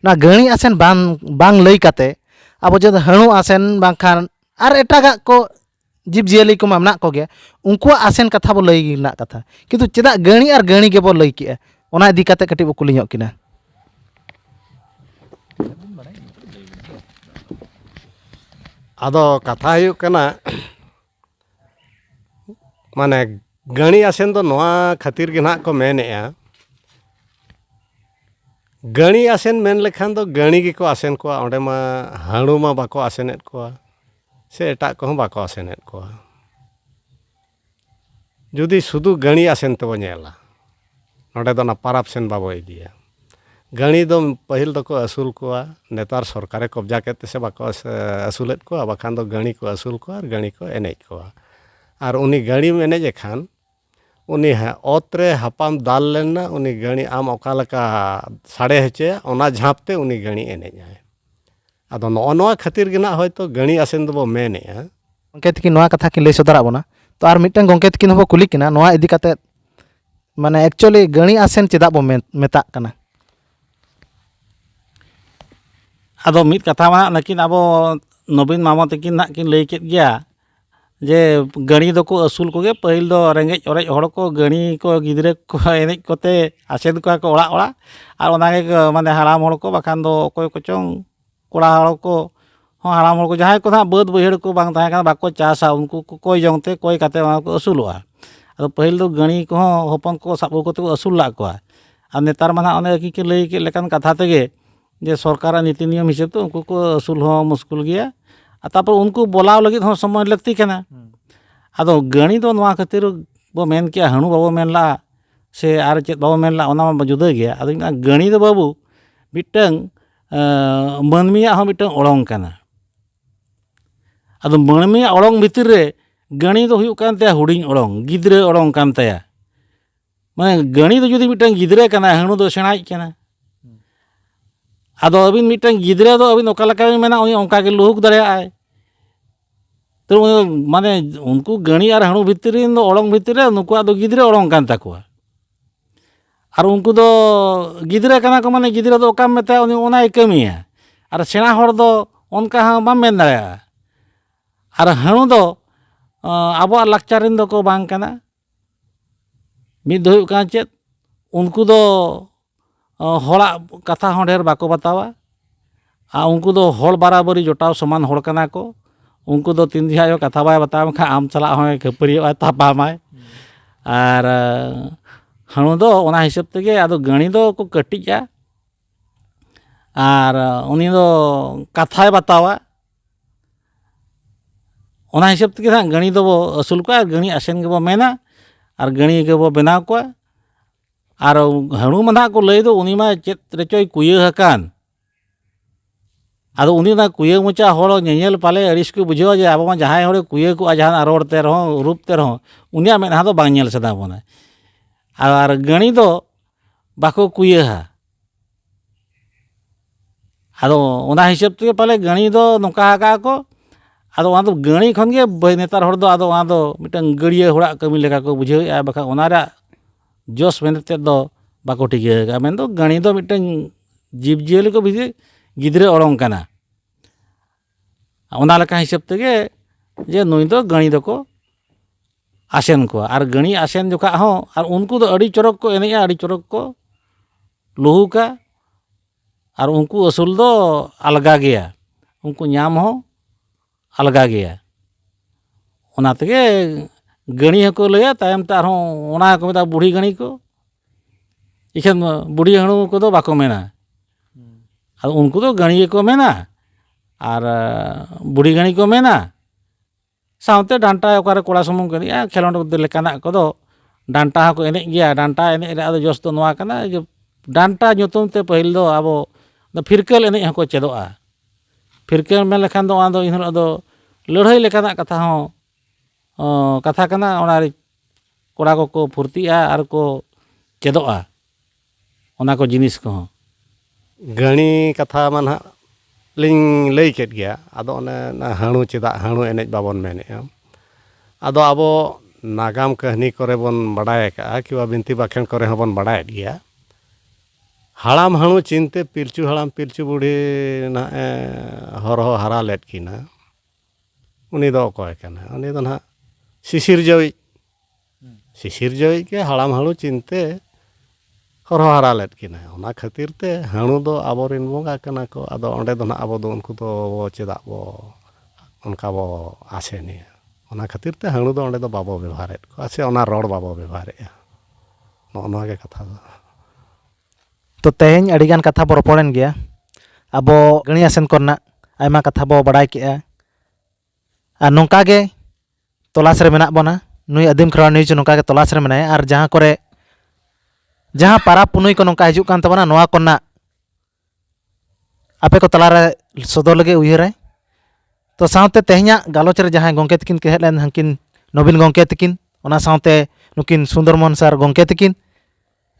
ᱱᱚᱣᱟ ᱜᱟᱹᱬᱤ ᱟᱥᱮᱱ ᱵᱟᱝ ᱵᱟᱝ ᱞᱟᱹᱭ ᱠᱟᱛᱮᱫ ᱟᱵᱚ ᱡᱩᱫᱤ ᱦᱟᱹᱬᱩ ᱟᱥᱮᱱ ᱵᱟᱝᱠᱷᱟᱱ ᱟᱨ ᱮᱴᱟᱜᱟᱜ ᱠᱚ ᱡᱤᱵᱽᱼᱡᱤᱭᱟᱹᱞᱤ ᱠᱚᱢᱟ ᱢᱮᱱᱟᱜ ᱠᱚᱜᱮ ᱩᱱᱠᱩᱣᱟᱜ ᱟᱥᱮᱱ ᱠᱟᱛᱷᱟ ᱵᱚ ᱞᱟᱹᱭ ᱨᱮᱱᱟᱜ ᱠᱟᱛᱷᱟ ᱠᱤᱱᱛᱩ ᱪᱮᱫᱟᱜ ᱜᱟᱹᱬᱤ ᱟᱨ ᱜᱟᱹᱬᱤ ᱜᱮᱵᱚ ᱞᱟᱹᱭ ᱠᱮᱜᱼᱟ ᱚᱱᱟ ᱤᱫᱤ ᱠᱟᱛᱮ ᱠᱟᱹᱴᱤᱡ ᱵᱚ ᱠᱩᱞᱤ ᱧᱚᱜ ᱠᱤᱱᱟ ᱟᱫᱚ ᱠᱟᱛᱷᱟ ᱦᱩᱭᱩᱜ ᱠᱟᱱᱟ ᱢᱟᱱᱮ ᱜᱟᱹᱬᱤ ᱟᱥᱮᱱ ᱫᱚ ᱱᱚᱣᱟ ᱠᱷᱟᱹᱛᱤᱨ ᱜᱮ ᱱᱟᱜ ᱠᱚ ᱢᱮᱱᱮᱜᱼᱟ ᱜᱟᱹᱬᱤ ᱟᱥᱮᱱ ᱢᱮᱱ ᱞᱮᱠᱷᱟᱱ ᱫᱚ ᱜᱟᱹᱬᱤ ᱜᱮᱠᱚ ᱟᱥᱮᱱ ᱠᱚᱣᱟ ᱚᱸᱰᱮ ᱢᱟ ᱦᱟᱹᱬᱩ ᱢᱟ ᱵᱟᱠᱚ ᱟᱥᱮᱱᱮᱜ ᱠᱚᱣᱟ ᱥᱮ ᱮᱴᱟᱜ ᱠᱚᱦᱚᱸ ᱵᱟᱠᱚ ᱟᱥᱮᱱᱮᱫ ᱠᱚᱣᱟ ᱡᱩᱫᱤ ᱥᱩᱫᱩ ᱜᱟᱹᱬᱤ ᱟᱥᱮᱱ ᱛᱮᱵᱚ ᱧᱮᱞᱟ ᱱᱚᱰᱮ ᱫᱚ ᱚᱱᱟ ᱯᱟᱨᱟᱵᱽ ᱥᱮᱱ ᱵᱟᱵᱚ ᱤᱫᱤᱭᱟ ᱜᱟᱹᱬᱤ ᱫᱚ ᱯᱟᱹᱦᱤᱞ ᱫᱚᱠᱚ ᱟᱹᱥᱩᱞ ᱠᱚᱣᱟ ᱱᱮᱛᱟᱨ ᱥᱚᱨᱠᱟᱨᱮ ᱠᱚᱵᱽᱡᱟ ᱠᱮᱫ ᱛᱮᱥᱮ ᱵᱟᱠᱚ ᱟᱹᱥᱩᱞᱮᱫ ᱠᱚᱣᱟ ᱵᱟᱠᱷᱟᱱ ᱫᱚ ᱜᱟᱹᱬᱤ ᱠᱚ ᱟᱹᱥᱩᱞ ᱠᱚᱣᱟ ᱟᱨ ᱜᱟᱹᱬᱤ ᱠᱚ ᱮᱱᱮᱡ ᱠᱚᱣᱟ ᱟᱨ ᱩᱱᱤ ᱜᱟᱹᱬᱤᱢ ᱮᱱᱮᱡᱮ ᱠᱷᱟᱱ ᱩᱱᱤ ᱦᱮᱸ ᱚᱛ ᱨᱮ ᱦᱟᱯᱟᱢ ᱫᱟᱞ ᱞᱮᱱᱟ ᱩᱱᱤ ᱜᱟᱹᱬᱤ ᱟᱢ ᱚᱠᱟ ᱞᱮᱠᱟ ᱥᱟᱰᱮ ᱦᱚᱪᱚᱭᱟ ᱚᱱᱟ ᱡᱷᱟᱯ ᱛᱮ ᱩᱱᱤ ᱜᱟᱹᱬᱤ ᱮᱱᱮᱡ ᱟᱭ ᱟᱫᱚ ᱱᱚᱜᱼᱚ ᱱᱚᱣᱟ ᱠᱷᱟᱹᱛᱤᱨ ᱜᱮ ᱱᱟᱜ ᱦᱚᱭᱛᱳ ᱜᱟᱹᱬᱤ ᱟᱥᱮᱱ ᱫᱚᱵᱚ ᱢᱮᱱᱮᱜᱼᱟ ᱜᱚᱢᱠᱮ ᱛᱟᱹᱠᱤᱱ ᱱᱚᱣᱟ ᱠᱟᱛᱷᱟ ᱠᱤᱱ ᱞᱟᱹᱭ ᱥᱚᱫᱚᱨᱟᱜ ᱵᱚᱱᱟ ᱛᱚ ᱟᱨ ᱢᱤᱫᱴᱟᱝ ᱜᱚᱢᱠᱮ ᱛᱟᱹᱠᱤᱱ ᱦᱚᱸᱵᱚ ᱠᱩᱞᱤ ᱠᱤᱱᱟ ᱱᱚᱣᱟ ᱤᱫᱤ ᱠᱟᱛᱮ ᱢᱟᱱᱮ ᱮᱠᱪᱩᱭᱮᱞᱤ ᱜᱟᱹᱬᱤ ᱟᱥᱮᱱ ᱪᱮᱫᱟᱜ ᱵᱚ ᱢᱮᱱ ᱢᱮᱛᱟᱜ ᱠᱟᱱᱟ ᱟᱫᱚ ᱢᱤᱫ ᱠᱟᱛᱷᱟ ᱢᱟ ᱱᱟᱜ ᱱᱩᱠᱤᱱ ᱟᱵᱚ ᱱᱚᱵᱤᱱ ᱢᱟᱢᱚ ᱛᱟᱹᱠᱤᱱ ᱱᱟᱜ ᱠᱤᱱ ᱞᱟᱹᱭ ᱠᱮᱫ ᱜᱮᱭᱟ ᱡᱮ ᱜᱟᱹᱲᱤ ᱫᱚᱠᱚ ᱟᱹᱥᱩᱞ ᱠᱚᱜᱮ ᱯᱟᱹᱦᱤᱞ ᱫᱚ ᱨᱮᱸᱜᱮᱡ ᱚᱨᱮᱡ ᱦᱚᱲ ᱠᱚ ᱜᱟᱹᱲᱤ ᱠᱚ ᱜᱤᱫᱽᱨᱟᱹ ᱠᱚ ᱮᱱᱮᱡ ᱠᱚᱛᱮ ᱟᱥᱮᱱ ᱠᱚᱣᱟ ᱠᱚ ᱚᱲᱟᱜ ᱚᱲᱟᱜ ᱟᱨ ᱚᱱᱟ ᱜᱮ ᱢᱟᱱᱮ ᱦᱟᱲᱟᱢ ᱦᱚᱲ ᱠᱚ ᱵᱟᱠᱷᱟᱱ ᱫᱚ ᱚᱠᱚᱭ ᱠᱚᱪᱚᱝ ᱠᱚᱲᱟ ᱦᱚᱲ ᱠᱚ ᱦᱚᱸ ᱦᱟᱲᱟᱢ ᱦᱚᱲ ᱠᱚ ᱡᱟᱦᱟᱸᱭ ᱠᱚ ᱦᱟᱸᱜ ᱵᱟᱹᱫᱽ ᱵᱟᱹᱭᱦᱟᱹᱲ ᱠᱚ ᱵᱟᱝ ᱛᱟᱦᱮᱸ ᱠᱟᱱᱟ ᱵᱟᱠᱚ ᱪᱟᱥᱟ ᱩᱱᱠᱩ ᱠᱚ ᱠᱚᱭ ᱡᱚᱝ ᱛᱮ ᱠᱚᱭ ᱠᱟᱛᱮ ᱚᱱᱟ ᱠᱚ ᱟᱹᱥᱩᱞᱚᱜᱼᱟ ᱟᱫᱚ ᱯᱟᱹᱦᱤᱞ ᱫᱚ ᱜᱟᱹᱲᱤ ᱠᱚᱦᱚᱸ ᱦᱚᱯᱚᱱ ᱠᱚ ᱥᱟᱵ ᱟᱹᱜᱩ ᱠᱟᱛᱮ ᱠᱚ ᱟᱹᱥᱩᱞ ᱞᱮᱫ ᱠᱚᱣᱟ ᱟᱨ ᱱᱮᱛᱟᱨ ᱢᱟ ᱦᱟᱸᱜ ᱚᱱᱮ ᱠᱤᱪᱷᱩ ᱞᱟᱹᱭ ᱠᱮᱫ ᱞᱮᱠᱟᱱ ᱠᱟᱛᱷᱟ ᱛᱮᱜᱮ ᱡᱮ ᱥᱚᱨᱠᱟᱨᱟᱜ ᱱᱤᱛᱤ ᱱᱤᱭᱚᱢ ᱦᱤᱥᱟᱹᱵ ᱛᱮ ᱩᱱᱠᱩ ᱠᱚ ᱟᱹᱥᱩᱞ ᱦᱚᱸ ᱢᱩᱥᱠᱤᱞ ᱜᱮᱭᱟ ᱟᱨ ᱛᱟᱨᱯᱚᱨ ᱩᱱᱠᱩ ᱵᱚᱞᱟᱣ ᱞᱟᱹᱜᱤᱫ ᱦᱚᱸ ᱥᱚᱢᱚᱭ ᱞᱟᱹᱠᱛᱤ ᱠᱟᱱᱟ ᱟᱫᱚ ᱜᱟᱹᱲᱤ ᱫᱚ ᱱᱚᱣᱟ ᱠᱷᱟᱹᱛᱤᱨ ᱵᱚ ᱢᱮᱱ ᱠᱮᱜᱼᱟ ᱦᱟᱹᱬᱩ ᱵᱟᱵᱚ ᱢᱮᱱ ᱞᱟᱜᱼᱟ ᱥᱮ ᱟᱨ ᱪᱮᱫ ᱵᱟᱵᱚ ᱢᱮᱱ ᱞᱟᱜᱼᱟ ᱚᱱᱟ ᱢᱟ ᱡᱩᱫᱟᱹ ᱜᱮᱭᱟ ᱟᱫᱚᱧ ᱢᱮᱱᱟ ᱜᱟᱹᱲᱤ ᱫᱚ ᱵᱟᱹᱵᱩ ᱢᱤᱫᱴᱟᱹᱝ ᱢᱟᱹᱱᱢᱤᱭᱟᱜ ᱦᱚᱸ ᱢᱤᱫᱴᱟᱹᱝ ᱚᱲᱚᱝ ᱠᱟᱱᱟ ᱟᱫᱚ ᱢᱟᱹᱱᱢᱤᱭᱟᱜ ᱚᱲᱚᱝ ᱵᱷᱤᱛᱤᱨ ᱨᱮ ᱜᱟᱹᱲᱤ ᱫᱚ ᱦᱩᱭᱩᱜ ᱠᱟᱱ ᱛᱟᱭᱟ ᱦᱩᱰᱤᱧ ᱚᱲᱚᱝ ᱜᱤᱫᱽᱨᱟᱹ ᱚᱲᱚᱝ ᱠᱟᱱ ᱛᱟᱭᱟ ᱢᱟᱱᱮ ᱜᱟᱹᱬᱤ ᱫᱚ ᱡᱩᱫᱤ ᱢᱤᱫᱴᱟᱝ ᱜᱤᱫᱽᱨᱟᱹ ᱠᱟᱱᱟᱭ ᱦᱟᱹᱬᱩ ᱫᱚ ᱥᱮᱬᱟᱭᱤᱡ ᱠᱟᱱᱟᱭ ᱟᱫᱚ ᱟᱹᱵᱤᱱ ᱢᱤᱫᱴᱟᱝ ᱜᱤᱫᱽᱨᱟᱹ ᱫᱚ ᱟᱹᱵᱤᱱ ᱚᱠᱟ ᱞᱮᱠᱟ ᱵᱤᱱ ᱢᱮᱱᱟ ᱩᱱᱤ ᱚᱱᱠᱟ ᱜᱮ ᱞᱩᱦᱩᱠ ᱫᱟᱲᱮᱭᱟᱜᱼᱟᱭ ᱛᱚ ᱢᱟᱱᱮ ᱩᱱᱠᱩ ᱜᱟᱹᱬᱤ ᱟᱨ ᱦᱟᱹᱬᱩ ᱵᱷᱤᱛᱨᱤ ᱨᱮᱱ ᱫᱚ ᱚᱲᱚᱝ ᱵᱷᱤᱛᱨᱤ ᱨᱮ ᱱᱩᱠᱩᱣᱟᱜ ᱫᱚ ᱜᱤᱫᱽᱨᱟᱹ ᱚᱲᱚᱝ ᱠᱟᱱ ᱛᱟᱠᱚᱣᱟ ᱟᱨ ᱩᱱᱠᱩ ᱫᱚ ᱜᱤᱫᱽᱨᱟᱹ ᱠᱟᱱᱟ ᱠᱚ ᱢᱟᱱᱮ ᱜᱤᱫᱽᱨᱟᱹ ᱫᱚ ᱚᱠᱟᱢ ᱢᱮᱛᱟᱭᱟ ᱩᱱᱤ ᱚᱱᱟᱭ ᱠᱟᱹᱢᱤᱭᱟ ᱟᱨ ᱥᱮᱬᱟ ᱦᱚᱲ ᱫᱚ ᱚᱱᱠᱟ ᱦᱚᱸ ᱵᱟᱢ ᱢᱮᱱ ᱫᱟᱲᱮᱭᱟᱜᱼᱟ ᱟᱨ ᱦᱟᱹᱬᱩ ᱫᱚ ᱟᱵᱚᱣᱟᱜ ᱞᱟᱠᱪᱟᱨ ᱨᱮᱱ ᱫᱚᱠᱚ ᱵᱟᱝ ᱠᱟᱱᱟ ᱢᱤᱫ ᱫᱚ ᱦᱩᱭᱩᱜ ᱠᱟᱱᱟ ᱪᱮᱫ ᱩᱱᱠᱩ ᱫᱚ ᱦᱚᱲᱟᱜ ᱠᱟᱛᱷᱟ ᱦᱚᱸ ᱰᱷᱮᱨ ᱵᱟᱠᱚ ᱵᱟᱛᱟᱣᱟ ᱟᱨ ᱩᱱᱠᱩ ᱫᱚ ᱦᱚᱲ ᱵᱟᱨᱟᱵᱟᱹᱨᱤ ᱡᱚᱴᱟᱣ ᱥᱚᱢᱟᱱ ᱦᱚᱲ ᱠᱟᱱᱟ ᱠᱚ ᱩᱱᱠᱩ ᱫᱚ ᱛᱤᱱ ᱡᱚᱠᱷᱟᱡ ᱦᱚᱸ ᱠᱟᱛᱷᱟ ᱵᱟᱭ ᱵᱟᱛᱟᱣᱟᱢ ᱠᱷᱟᱡ ᱟᱢ ᱥᱟᱞᱟᱜ ᱦᱚᱸᱭ ᱠᱷᱟᱹᱯᱟᱹᱨᱤᱭᱟᱹᱜᱼᱟ ᱛᱟᱯᱟᱢᱟᱭ ᱟᱨ ᱦᱟᱹᱬᱩ ᱫᱚ ᱚᱱᱟ ᱦᱤᱥᱟᱹᱵ ᱛᱮᱜᱮ ᱟᱫᱚ ᱜᱟᱹᱬᱤ ᱫᱚᱠᱚ ᱠᱟᱹᱴᱤᱡᱼᱟ ᱟᱨ ᱩᱱᱤ ᱫᱚ ᱠᱟᱛᱷᱟᱭ ᱵᱟᱛᱟᱣᱟ ᱚᱱᱟ ᱦᱤᱥᱟᱹᱵ ᱛᱮᱜᱮ ᱱᱟᱜ ᱜᱟᱹᱬᱤ ᱫᱚᱵᱚ ᱟᱹᱥᱩᱞ ᱠᱚᱣᱟ ᱟᱨ ᱜᱟᱹᱬᱤ ᱟᱥᱮᱱ ᱜᱮᱵᱚ ᱢᱮᱱᱟ ᱟᱨ ᱜᱟᱹᱬᱤ ᱜᱮᱵᱚ ᱵᱮᱱᱟᱣ ᱠᱚᱣᱟ ᱟᱨ ᱦᱟᱺᱬᱩ ᱢᱟ ᱱᱟᱜ ᱠᱚ ᱞᱟᱹᱭ ᱫᱚ ᱩᱱᱤ ᱢᱟ ᱪᱮᱫ ᱨᱮᱪᱚᱭ ᱠᱩᱭᱟᱹ ᱟᱠᱟᱱ ᱟᱫᱚ ᱩᱱᱤ ᱚᱱᱟ ᱠᱩᱭᱟᱹ ᱢᱚᱪᱟ ᱦᱚᱲ ᱧᱮᱧᱮᱞ ᱯᱟᱞᱮ ᱟᱹᱲᱤᱥ ᱠᱚ ᱵᱩᱡᱷᱟᱹᱣᱟ ᱡᱮ ᱟᱵᱚ ᱢᱟ ᱡᱟᱦᱟᱸᱭ ᱦᱚᱲᱮ ᱠᱩᱭᱟᱹ ᱠᱚᱜᱼᱟ ᱡᱟᱦᱟᱱᱟᱜ ᱨᱚᱲ ᱛᱮ ᱨᱮᱦᱚᱸ ᱨᱩᱯ ᱛᱮ ᱨᱮᱦᱚᱸ ᱩᱱᱤᱭᱟᱜ ᱢᱮᱫᱦᱟ ᱫᱚ ᱵᱟᱝ ᱧᱮᱞ ᱥᱟᱱᱟ ᱵᱚᱱᱟ ᱟᱨ ᱜᱟᱹᱬᱤ ᱫᱚ ᱵᱟᱠᱚ ᱠᱩᱭᱟᱹᱣᱟ ᱟᱫᱚ ᱚᱱᱟ ᱦᱤᱥᱟᱹᱵ ᱛᱮᱜᱮ ᱯᱟᱞᱮ ᱜᱟᱹᱬᱤ ᱫᱚ ᱱᱚᱝᱠᱟ ᱟᱠᱟᱜ ᱟᱠᱚ ᱟᱫᱚ ᱚᱱᱟ ᱫᱚ ᱜᱟᱹᱬᱤ ᱠᱷᱚᱱ ᱜᱮ ᱱᱮᱛᱟᱨ ᱦᱚᱲ ᱫᱚ ᱟᱫᱚ ᱚᱱᱟ ᱫᱚ ᱢᱤᱫᱴᱟᱝ ᱜᱟᱹᱲᱭᱟᱹ ᱦᱚᱲᱟᱜ ᱠᱟᱹᱢᱤ ᱞᱮᱠᱟ ᱠᱚ ᱵᱩᱡᱷᱟᱹᱣᱮᱜᱼᱟ ᱵᱟᱠᱷᱟᱱ ᱚᱱᱟ ᱨᱮᱭᱟᱜ ᱡᱚᱥ ᱢᱮᱱᱮᱛ ᱛᱮᱫ ᱫᱚ ᱵᱟᱠᱚ ᱴᱷᱤᱠᱟᱹ ᱟᱠᱟᱜᱼᱟ ᱢᱮᱱ ᱫᱚ ᱜᱟᱹᱬᱤ ᱫᱚ ᱢᱤᱫᱴᱟᱝ ᱡᱤᱵᱽ ᱡᱤᱭᱟᱹᱞᱤ ᱠᱚ ᱵᱷᱤᱛᱤᱨ ᱜᱤᱫᱽᱨᱟᱹ ᱚᱲᱚᱝ ᱠᱟᱱᱟ ᱚᱱᱟ ᱞᱮᱠᱟ ᱦᱤᱥᱟᱹᱵ ᱛᱮᱜᱮ ᱡᱮ ᱱᱩᱭ ᱫᱚ ᱜᱟᱹᱬᱤ ᱫᱚᱠᱚ ᱟᱥᱮᱱ ᱠᱚᱣᱟ ᱟᱨ ᱜᱟᱹᱬᱤ ᱟᱥᱮᱱ ᱡᱚᱠᱷᱟᱜ ᱦᱚᱸ ᱟᱨ ᱩᱱᱠᱩ ᱫᱚ ᱟᱹᱰᱤ ᱪᱚᱨᱚᱠ ᱠᱚ ᱮᱱᱮᱡᱼᱟ ᱟᱹᱰᱤ ᱪᱚᱨᱚᱠ ᱠᱚ ᱞᱩᱦᱩᱠᱟ ᱟᱨ ᱩᱱᱠᱩ ᱟᱹᱥᱩᱞ ᱫᱚ ᱟᱞᱜᱟ ᱜᱮᱭᱟ ᱩᱱᱠᱩ ᱧᱟᱢ ᱦᱚᱸ ᱟᱞᱜᱟ ᱜᱮᱭᱟ ᱚᱱᱟ ᱛᱮᱜᱮ ᱜᱟᱹᱬᱤ ᱦᱚᱸᱠᱚ ᱞᱟᱹᱭᱟ ᱛᱟᱭᱚᱢ ᱛᱮ ᱟᱨᱦᱚᱸ ᱚᱱᱟ ᱜᱮᱠᱚ ᱢᱮᱛᱟᱜᱼᱟ ᱵᱩᱲᱦᱤ ᱜᱟᱹᱬᱤ ᱠᱚ ᱤᱠᱷᱟᱹᱱ ᱵᱩᱲᱦᱤ ᱦᱟᱹᱬᱩ ᱠᱚᱫᱚ ᱵᱟᱠᱚ ᱢᱮᱱᱟ ᱟᱫᱚ ᱩᱱᱠᱩ ᱫᱚ ᱜᱟᱹᱬᱤ ᱜᱮᱠᱚ ᱢᱮᱱᱟ ᱟᱨ ᱵᱩᱲᱦᱤ ᱜᱟᱹᱬᱤ ᱠᱚ ᱢᱮᱱᱟ ᱥᱟᱶᱛᱮ ᱰᱟᱱᱴᱟ ᱚᱠᱟᱨᱮ ᱠᱚᱲᱟ ᱥᱩᱢᱩᱝ ᱠᱚ ᱮᱱᱮᱡᱼᱟ ᱠᱷᱮᱞᱳᱰ ᱞᱮᱠᱟᱱᱟᱜ ᱠᱚᱫᱚ ᱰᱟᱱᱴᱟ ᱦᱚᱸᱠᱚ ᱮᱱᱮᱡ ᱜᱮᱭᱟ ᱰᱟᱱᱴᱟ ᱮᱱᱮᱡ ᱨᱮ ᱟᱫᱚ ᱡᱚᱥ ᱫᱚ ᱱᱚᱣᱟ ᱠᱟᱱᱟ ᱡᱮ ᱰᱟᱱᱴᱟ ᱧᱩᱛᱩᱢ ᱛᱮ ᱯᱟᱹᱦᱤᱞ ᱫᱚ ᱟᱵᱚ ᱫᱚ ᱯᱷᱤᱨᱠᱟᱹᱞ ᱮᱱᱮᱡ ᱦᱚᱸᱠᱚ ᱪᱮᱫᱚᱜᱼᱟ ᱯᱷᱤᱨᱠᱟᱹᱞ ᱢᱮᱱ ᱞᱮᱠᱷᱟᱱ ᱫᱚ ᱟᱫᱚ ᱮᱱᱦᱤᱞᱳᱜ ᱫᱚ ᱞᱟᱹᱲᱦᱟᱹᱭ ᱞᱮᱠᱟᱱᱟᱜ ᱠᱟᱛᱷᱟ ᱦᱚᱸ ᱠᱟᱛᱷᱟ ᱠᱟᱱᱟ ᱚᱱᱟᱨᱮ ᱠᱚᱲᱟ ᱠᱚᱠᱚ ᱯᱷᱩᱨᱛᱤᱜᱼᱟ ᱟᱨ ᱠᱚ ᱪᱮᱫᱚᱜᱼᱟ ᱚᱱᱟ ᱠᱚ ᱡᱤᱱᱤᱥ ᱠᱚᱦᱚᱸ᱾ ᱜᱟᱹᱬᱤ ᱠᱟᱛᱷᱟ ᱢᱟ ᱱᱟᱦᱟᱜ ᱞᱤᱧ ᱞᱟᱹᱭ ᱠᱮᱫ ᱜᱮᱭᱟ ᱟᱫᱚ ᱚᱱᱮ ᱚᱱᱟ ᱦᱟᱹᱬᱩ ᱪᱮᱫᱟᱜ ᱦᱟᱹᱬᱩ ᱮᱱᱮᱡ ᱵᱟᱵᱚᱱ ᱢᱮᱱᱮᱜᱼᱟ ᱟᱫᱚ ᱟᱵᱚ ᱱᱟᱜᱟᱢ ᱠᱟᱹᱦᱱᱤ ᱠᱚᱨᱮ ᱵᱚᱱ ᱵᱟᱰᱟᱭ ᱟᱠᱟᱜᱼᱟ ᱠᱤᱵᱟ ᱵᱤᱱᱛᱤ ᱵᱟᱠᱷᱮᱬ ᱠᱚᱨᱮ ᱦᱚᱸ ᱵᱚᱱ ᱵᱟᱰᱟᱭᱮᱫ ᱜᱮᱭᱟ ᱦᱟᱲᱟᱢ ᱦᱟᱹᱬᱩ ᱪᱤᱱᱛᱮ ᱯᱤᱞᱪᱩ ᱦᱟᱲᱟᱢ ᱯᱤᱞᱪᱩ ᱵᱩᱰᱷᱤ ᱱᱟᱦᱟᱜ ᱮ ᱦᱚᱨᱦᱚ ᱦᱟᱨᱟ ᱞᱮᱫ ᱠᱤᱱᱟ ᱩᱱᱤ ᱫᱚ ᱚᱠᱚᱭ ᱠᱟᱱᱟᱭ ᱩᱱᱤ ᱫᱚ ᱱᱟᱦᱟᱜ ᱥᱤᱥᱤᱨᱡᱟᱹᱣᱤᱡ ᱥᱤᱥᱤᱨᱡᱟᱹᱣᱤᱡ ᱜᱮ ᱦᱟᱲᱟᱢ ᱦᱟᱹᱬᱩ ᱪᱤᱱᱛᱮ ᱦᱚᱨᱦᱚ ᱦᱟᱨᱟ ᱞᱮᱫ ᱠᱤᱱᱟᱹ ᱚᱱᱟ ᱠᱷᱟᱹᱛᱤᱨ ᱛᱮ ᱦᱟᱹᱬᱩ ᱫᱚ ᱟᱵᱚ ᱨᱮᱱ ᱵᱚᱸᱜᱟ ᱠᱟᱱᱟ ᱠᱚ ᱟᱫᱚ ᱚᱸᱰᱮ ᱫᱚ ᱱᱟᱦᱟᱜ ᱟᱵᱚ ᱫᱚ ᱩᱱᱠᱩ ᱫᱚ ᱪᱮᱫᱟᱜ ᱵᱚ ᱚᱱᱠᱟ ᱵᱚ ᱟᱥᱮᱱᱮᱭᱟ ᱚᱱᱟ ᱠᱷᱟᱹᱛᱤᱨ ᱛᱮ ᱦᱟᱹᱬᱩ ᱫᱚ ᱚᱸᱰᱮ ᱫᱚ ᱵᱟᱵᱚ ᱵᱮᱵᱷᱟᱨᱮᱫ ᱠᱚᱣᱟ ᱥᱮ ᱚᱱᱟ ᱨᱚᱲ ᱵᱟᱵᱚ ᱵᱮᱵᱷᱟᱨᱮᱜᱼᱟ ᱱᱚᱜᱼᱚ ᱱᱚᱣᱟ ᱜᱮ ᱠᱟᱛᱷᱟ ᱫᱚ ᱛᱚ ᱛᱮᱦᱮᱧ ᱟᱹᱰᱤ ᱜᱟᱱ ᱠᱟᱛᱷᱟ ᱵᱚ ᱨᱚᱯᱚᱲᱮᱱ ᱜᱮᱭᱟ ᱟᱵᱚ ᱜᱟᱹᱬᱤ ᱟᱥᱮᱱ ᱠᱚᱨᱮᱱᱟᱜ ᱟᱭᱢᱟ ᱠᱟᱛᱷᱟ ᱵᱚ ᱵᱟᱲᱟᱭ ᱠᱮᱜᱼᱟ ᱟᱨ ᱱᱚᱝᱠᱟ ᱜᱮ ᱛᱚᱞᱟᱥ ᱨᱮ ᱢᱮᱱᱟᱜ ᱵᱚᱱᱟ ᱱᱩᱭ ᱟᱹᱫᱤᱢ ᱠᱷᱮᱨᱣᱟᱲ ᱱᱤᱭᱩᱡᱽ ᱱᱚᱝᱠᱟ ᱜᱮ ᱛᱚᱞᱟᱥ ᱨᱮ ᱢᱮᱱᱟᱭᱟ ᱟᱨ ᱡᱟᱦᱟᱸ ᱠᱚᱨᱮ ᱡᱟᱦᱟᱸ ᱯᱟᱨᱟᱵᱽ ᱯᱩᱱᱟᱹᱭ ᱠᱚ ᱱᱚᱝᱠᱟ ᱦᱤᱡᱩᱜ ᱠᱟᱱ ᱛᱟᱵᱚᱱᱟ ᱱᱚᱣᱟ ᱠᱚᱨᱮᱱᱟᱜ ᱟᱯᱮ ᱠᱚ ᱛᱟᱞᱟᱨᱮ ᱥᱚᱫᱚᱨ ᱞᱟᱹᱜᱤᱫ ᱩᱭᱦᱟᱹᱨᱟᱭ ᱛᱚ ᱥᱟᱶᱛᱮ ᱛᱮᱦᱮᱧᱟᱜ ᱜᱟᱞᱚᱪ ᱨᱮ ᱡᱟᱦᱟᱸᱭ ᱜᱚᱢᱠᱮ ᱛᱟᱹᱠᱤᱱ ᱠᱤᱱ ᱦᱮᱡ ᱞᱮᱱ ᱦᱟᱹᱝᱠᱤᱱ ᱱᱚᱵᱤᱱ ᱜᱚᱢᱠᱮ ᱛᱟᱹᱠᱤᱱ ᱚᱱᱟ ᱥᱟᱶᱛᱮ ᱱᱩᱠᱤᱱ ᱥᱩᱱᱫᱚᱨ ᱢᱳᱦᱚᱱ ᱥᱟᱨ ᱜᱚᱢᱠᱮ ᱛᱟᱹᱠᱤᱱ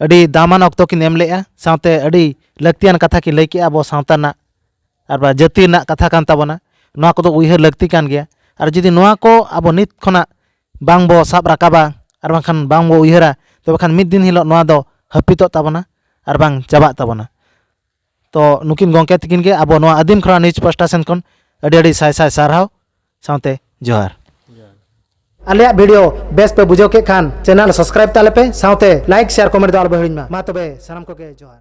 ᱟᱹᱰᱤ ᱫᱟᱢᱟᱱ ᱚᱠᱛᱚ ᱠᱤᱱ ᱮᱢ ᱞᱮᱫᱼᱟ ᱥᱟᱶᱛᱮ ᱟᱹᱰᱤ ᱞᱟᱹᱠᱛᱤᱭᱟᱱ ᱠᱟᱛᱷᱟ ᱠᱤᱱ ᱞᱟᱹᱭ ᱠᱮᱫᱼᱟ ᱟᱵᱚ ᱥᱟᱶᱛᱟ ᱨᱮᱱᱟᱜ ᱟᱨ ᱵᱟᱝ ᱡᱟᱹᱛᱤ ᱨᱮᱱᱟᱜ ᱠᱟᱛᱷᱟ ᱠᱟᱱ ᱛᱟᱵᱚᱱᱟ ᱱᱚᱣᱟ ᱠᱚᱫᱚ ᱩᱭᱦᱟᱹᱨ ᱞᱟᱹᱠᱛᱤ ᱠᱟᱱ ᱜᱮᱭᱟ ᱟᱨ ᱡᱩᱫᱤ ᱱᱚᱣᱟ ᱠᱚ ᱟᱵᱚ ᱱᱤᱛ ᱠᱷᱚᱱᱟᱜ ᱵᱟᱝ ᱵᱚ ᱥᱟᱵ ᱨᱟᱠᱟᱵᱟ ᱟᱨ ᱵᱟᱝᱠᱷᱟᱱ ᱵᱟᱝ ᱵᱚ ᱩᱭᱦᱟᱹᱨᱟ ᱛᱚᱵᱮ ᱠᱷᱟᱱ ᱢᱤᱫ ᱫᱤᱱ ᱦᱤᱞᱳᱜ ᱱᱚᱣᱟ ᱫᱚ ᱦᱟᱹᱯᱤᱫᱚᱜ ᱛᱟᱵᱚᱱᱟ ᱟᱨ ᱵᱟᱝ ᱪᱟᱵᱟᱜ ᱛᱟᱵᱚᱱᱟ ᱛᱚ ᱱᱩᱠᱤᱱ ᱜᱚᱝᱠᱮ ᱛᱤᱠᱤᱱ ᱜᱮ ᱟᱵᱚ ᱱᱚᱣᱟ ᱟᱹᱫᱤᱢ ᱠᱷᱚᱨᱟ ᱱᱤᱭᱩᱡᱽ ᱯᱟᱥᱴᱟ ᱥᱮᱱ ᱠᱷᱚᱱ ᱟᱹᱰᱤ ᱟᱹᱰᱤ ᱥᱟᱭ ᱥᱟᱭ ᱥᱟᱨᱦᱟᱣ ᱥᱟᱶᱛᱮ ᱡᱚᱦᱟᱨ ᱟᱞᱮᱭᱟᱜ ᱵᱷᱤᱰᱤᱭᱳ ᱵᱮᱥ ᱯᱮ ᱵᱩᱡᱷᱟᱹᱣ ᱠᱮᱫ ᱠᱷᱟᱱ ᱪᱮᱱᱮᱞ ᱥᱟᱵᱥᱠᱨᱟᱭᱤᱵ ᱛᱟᱞᱮ ᱯᱮ ᱥᱟᱶᱛᱮ ᱞᱟᱭᱤᱠ ᱥᱮᱭᱟᱨ ᱠᱚᱢᱮᱱᱴ ᱫᱚ ᱟᱞᱚᱯᱮ ᱦᱤᱲᱤᱧ ᱢᱟ ᱢᱟ ᱛᱚᱵᱮ ᱥᱟᱱᱟᱢ ᱠᱚᱜᱮ ᱡᱚᱦᱟᱨ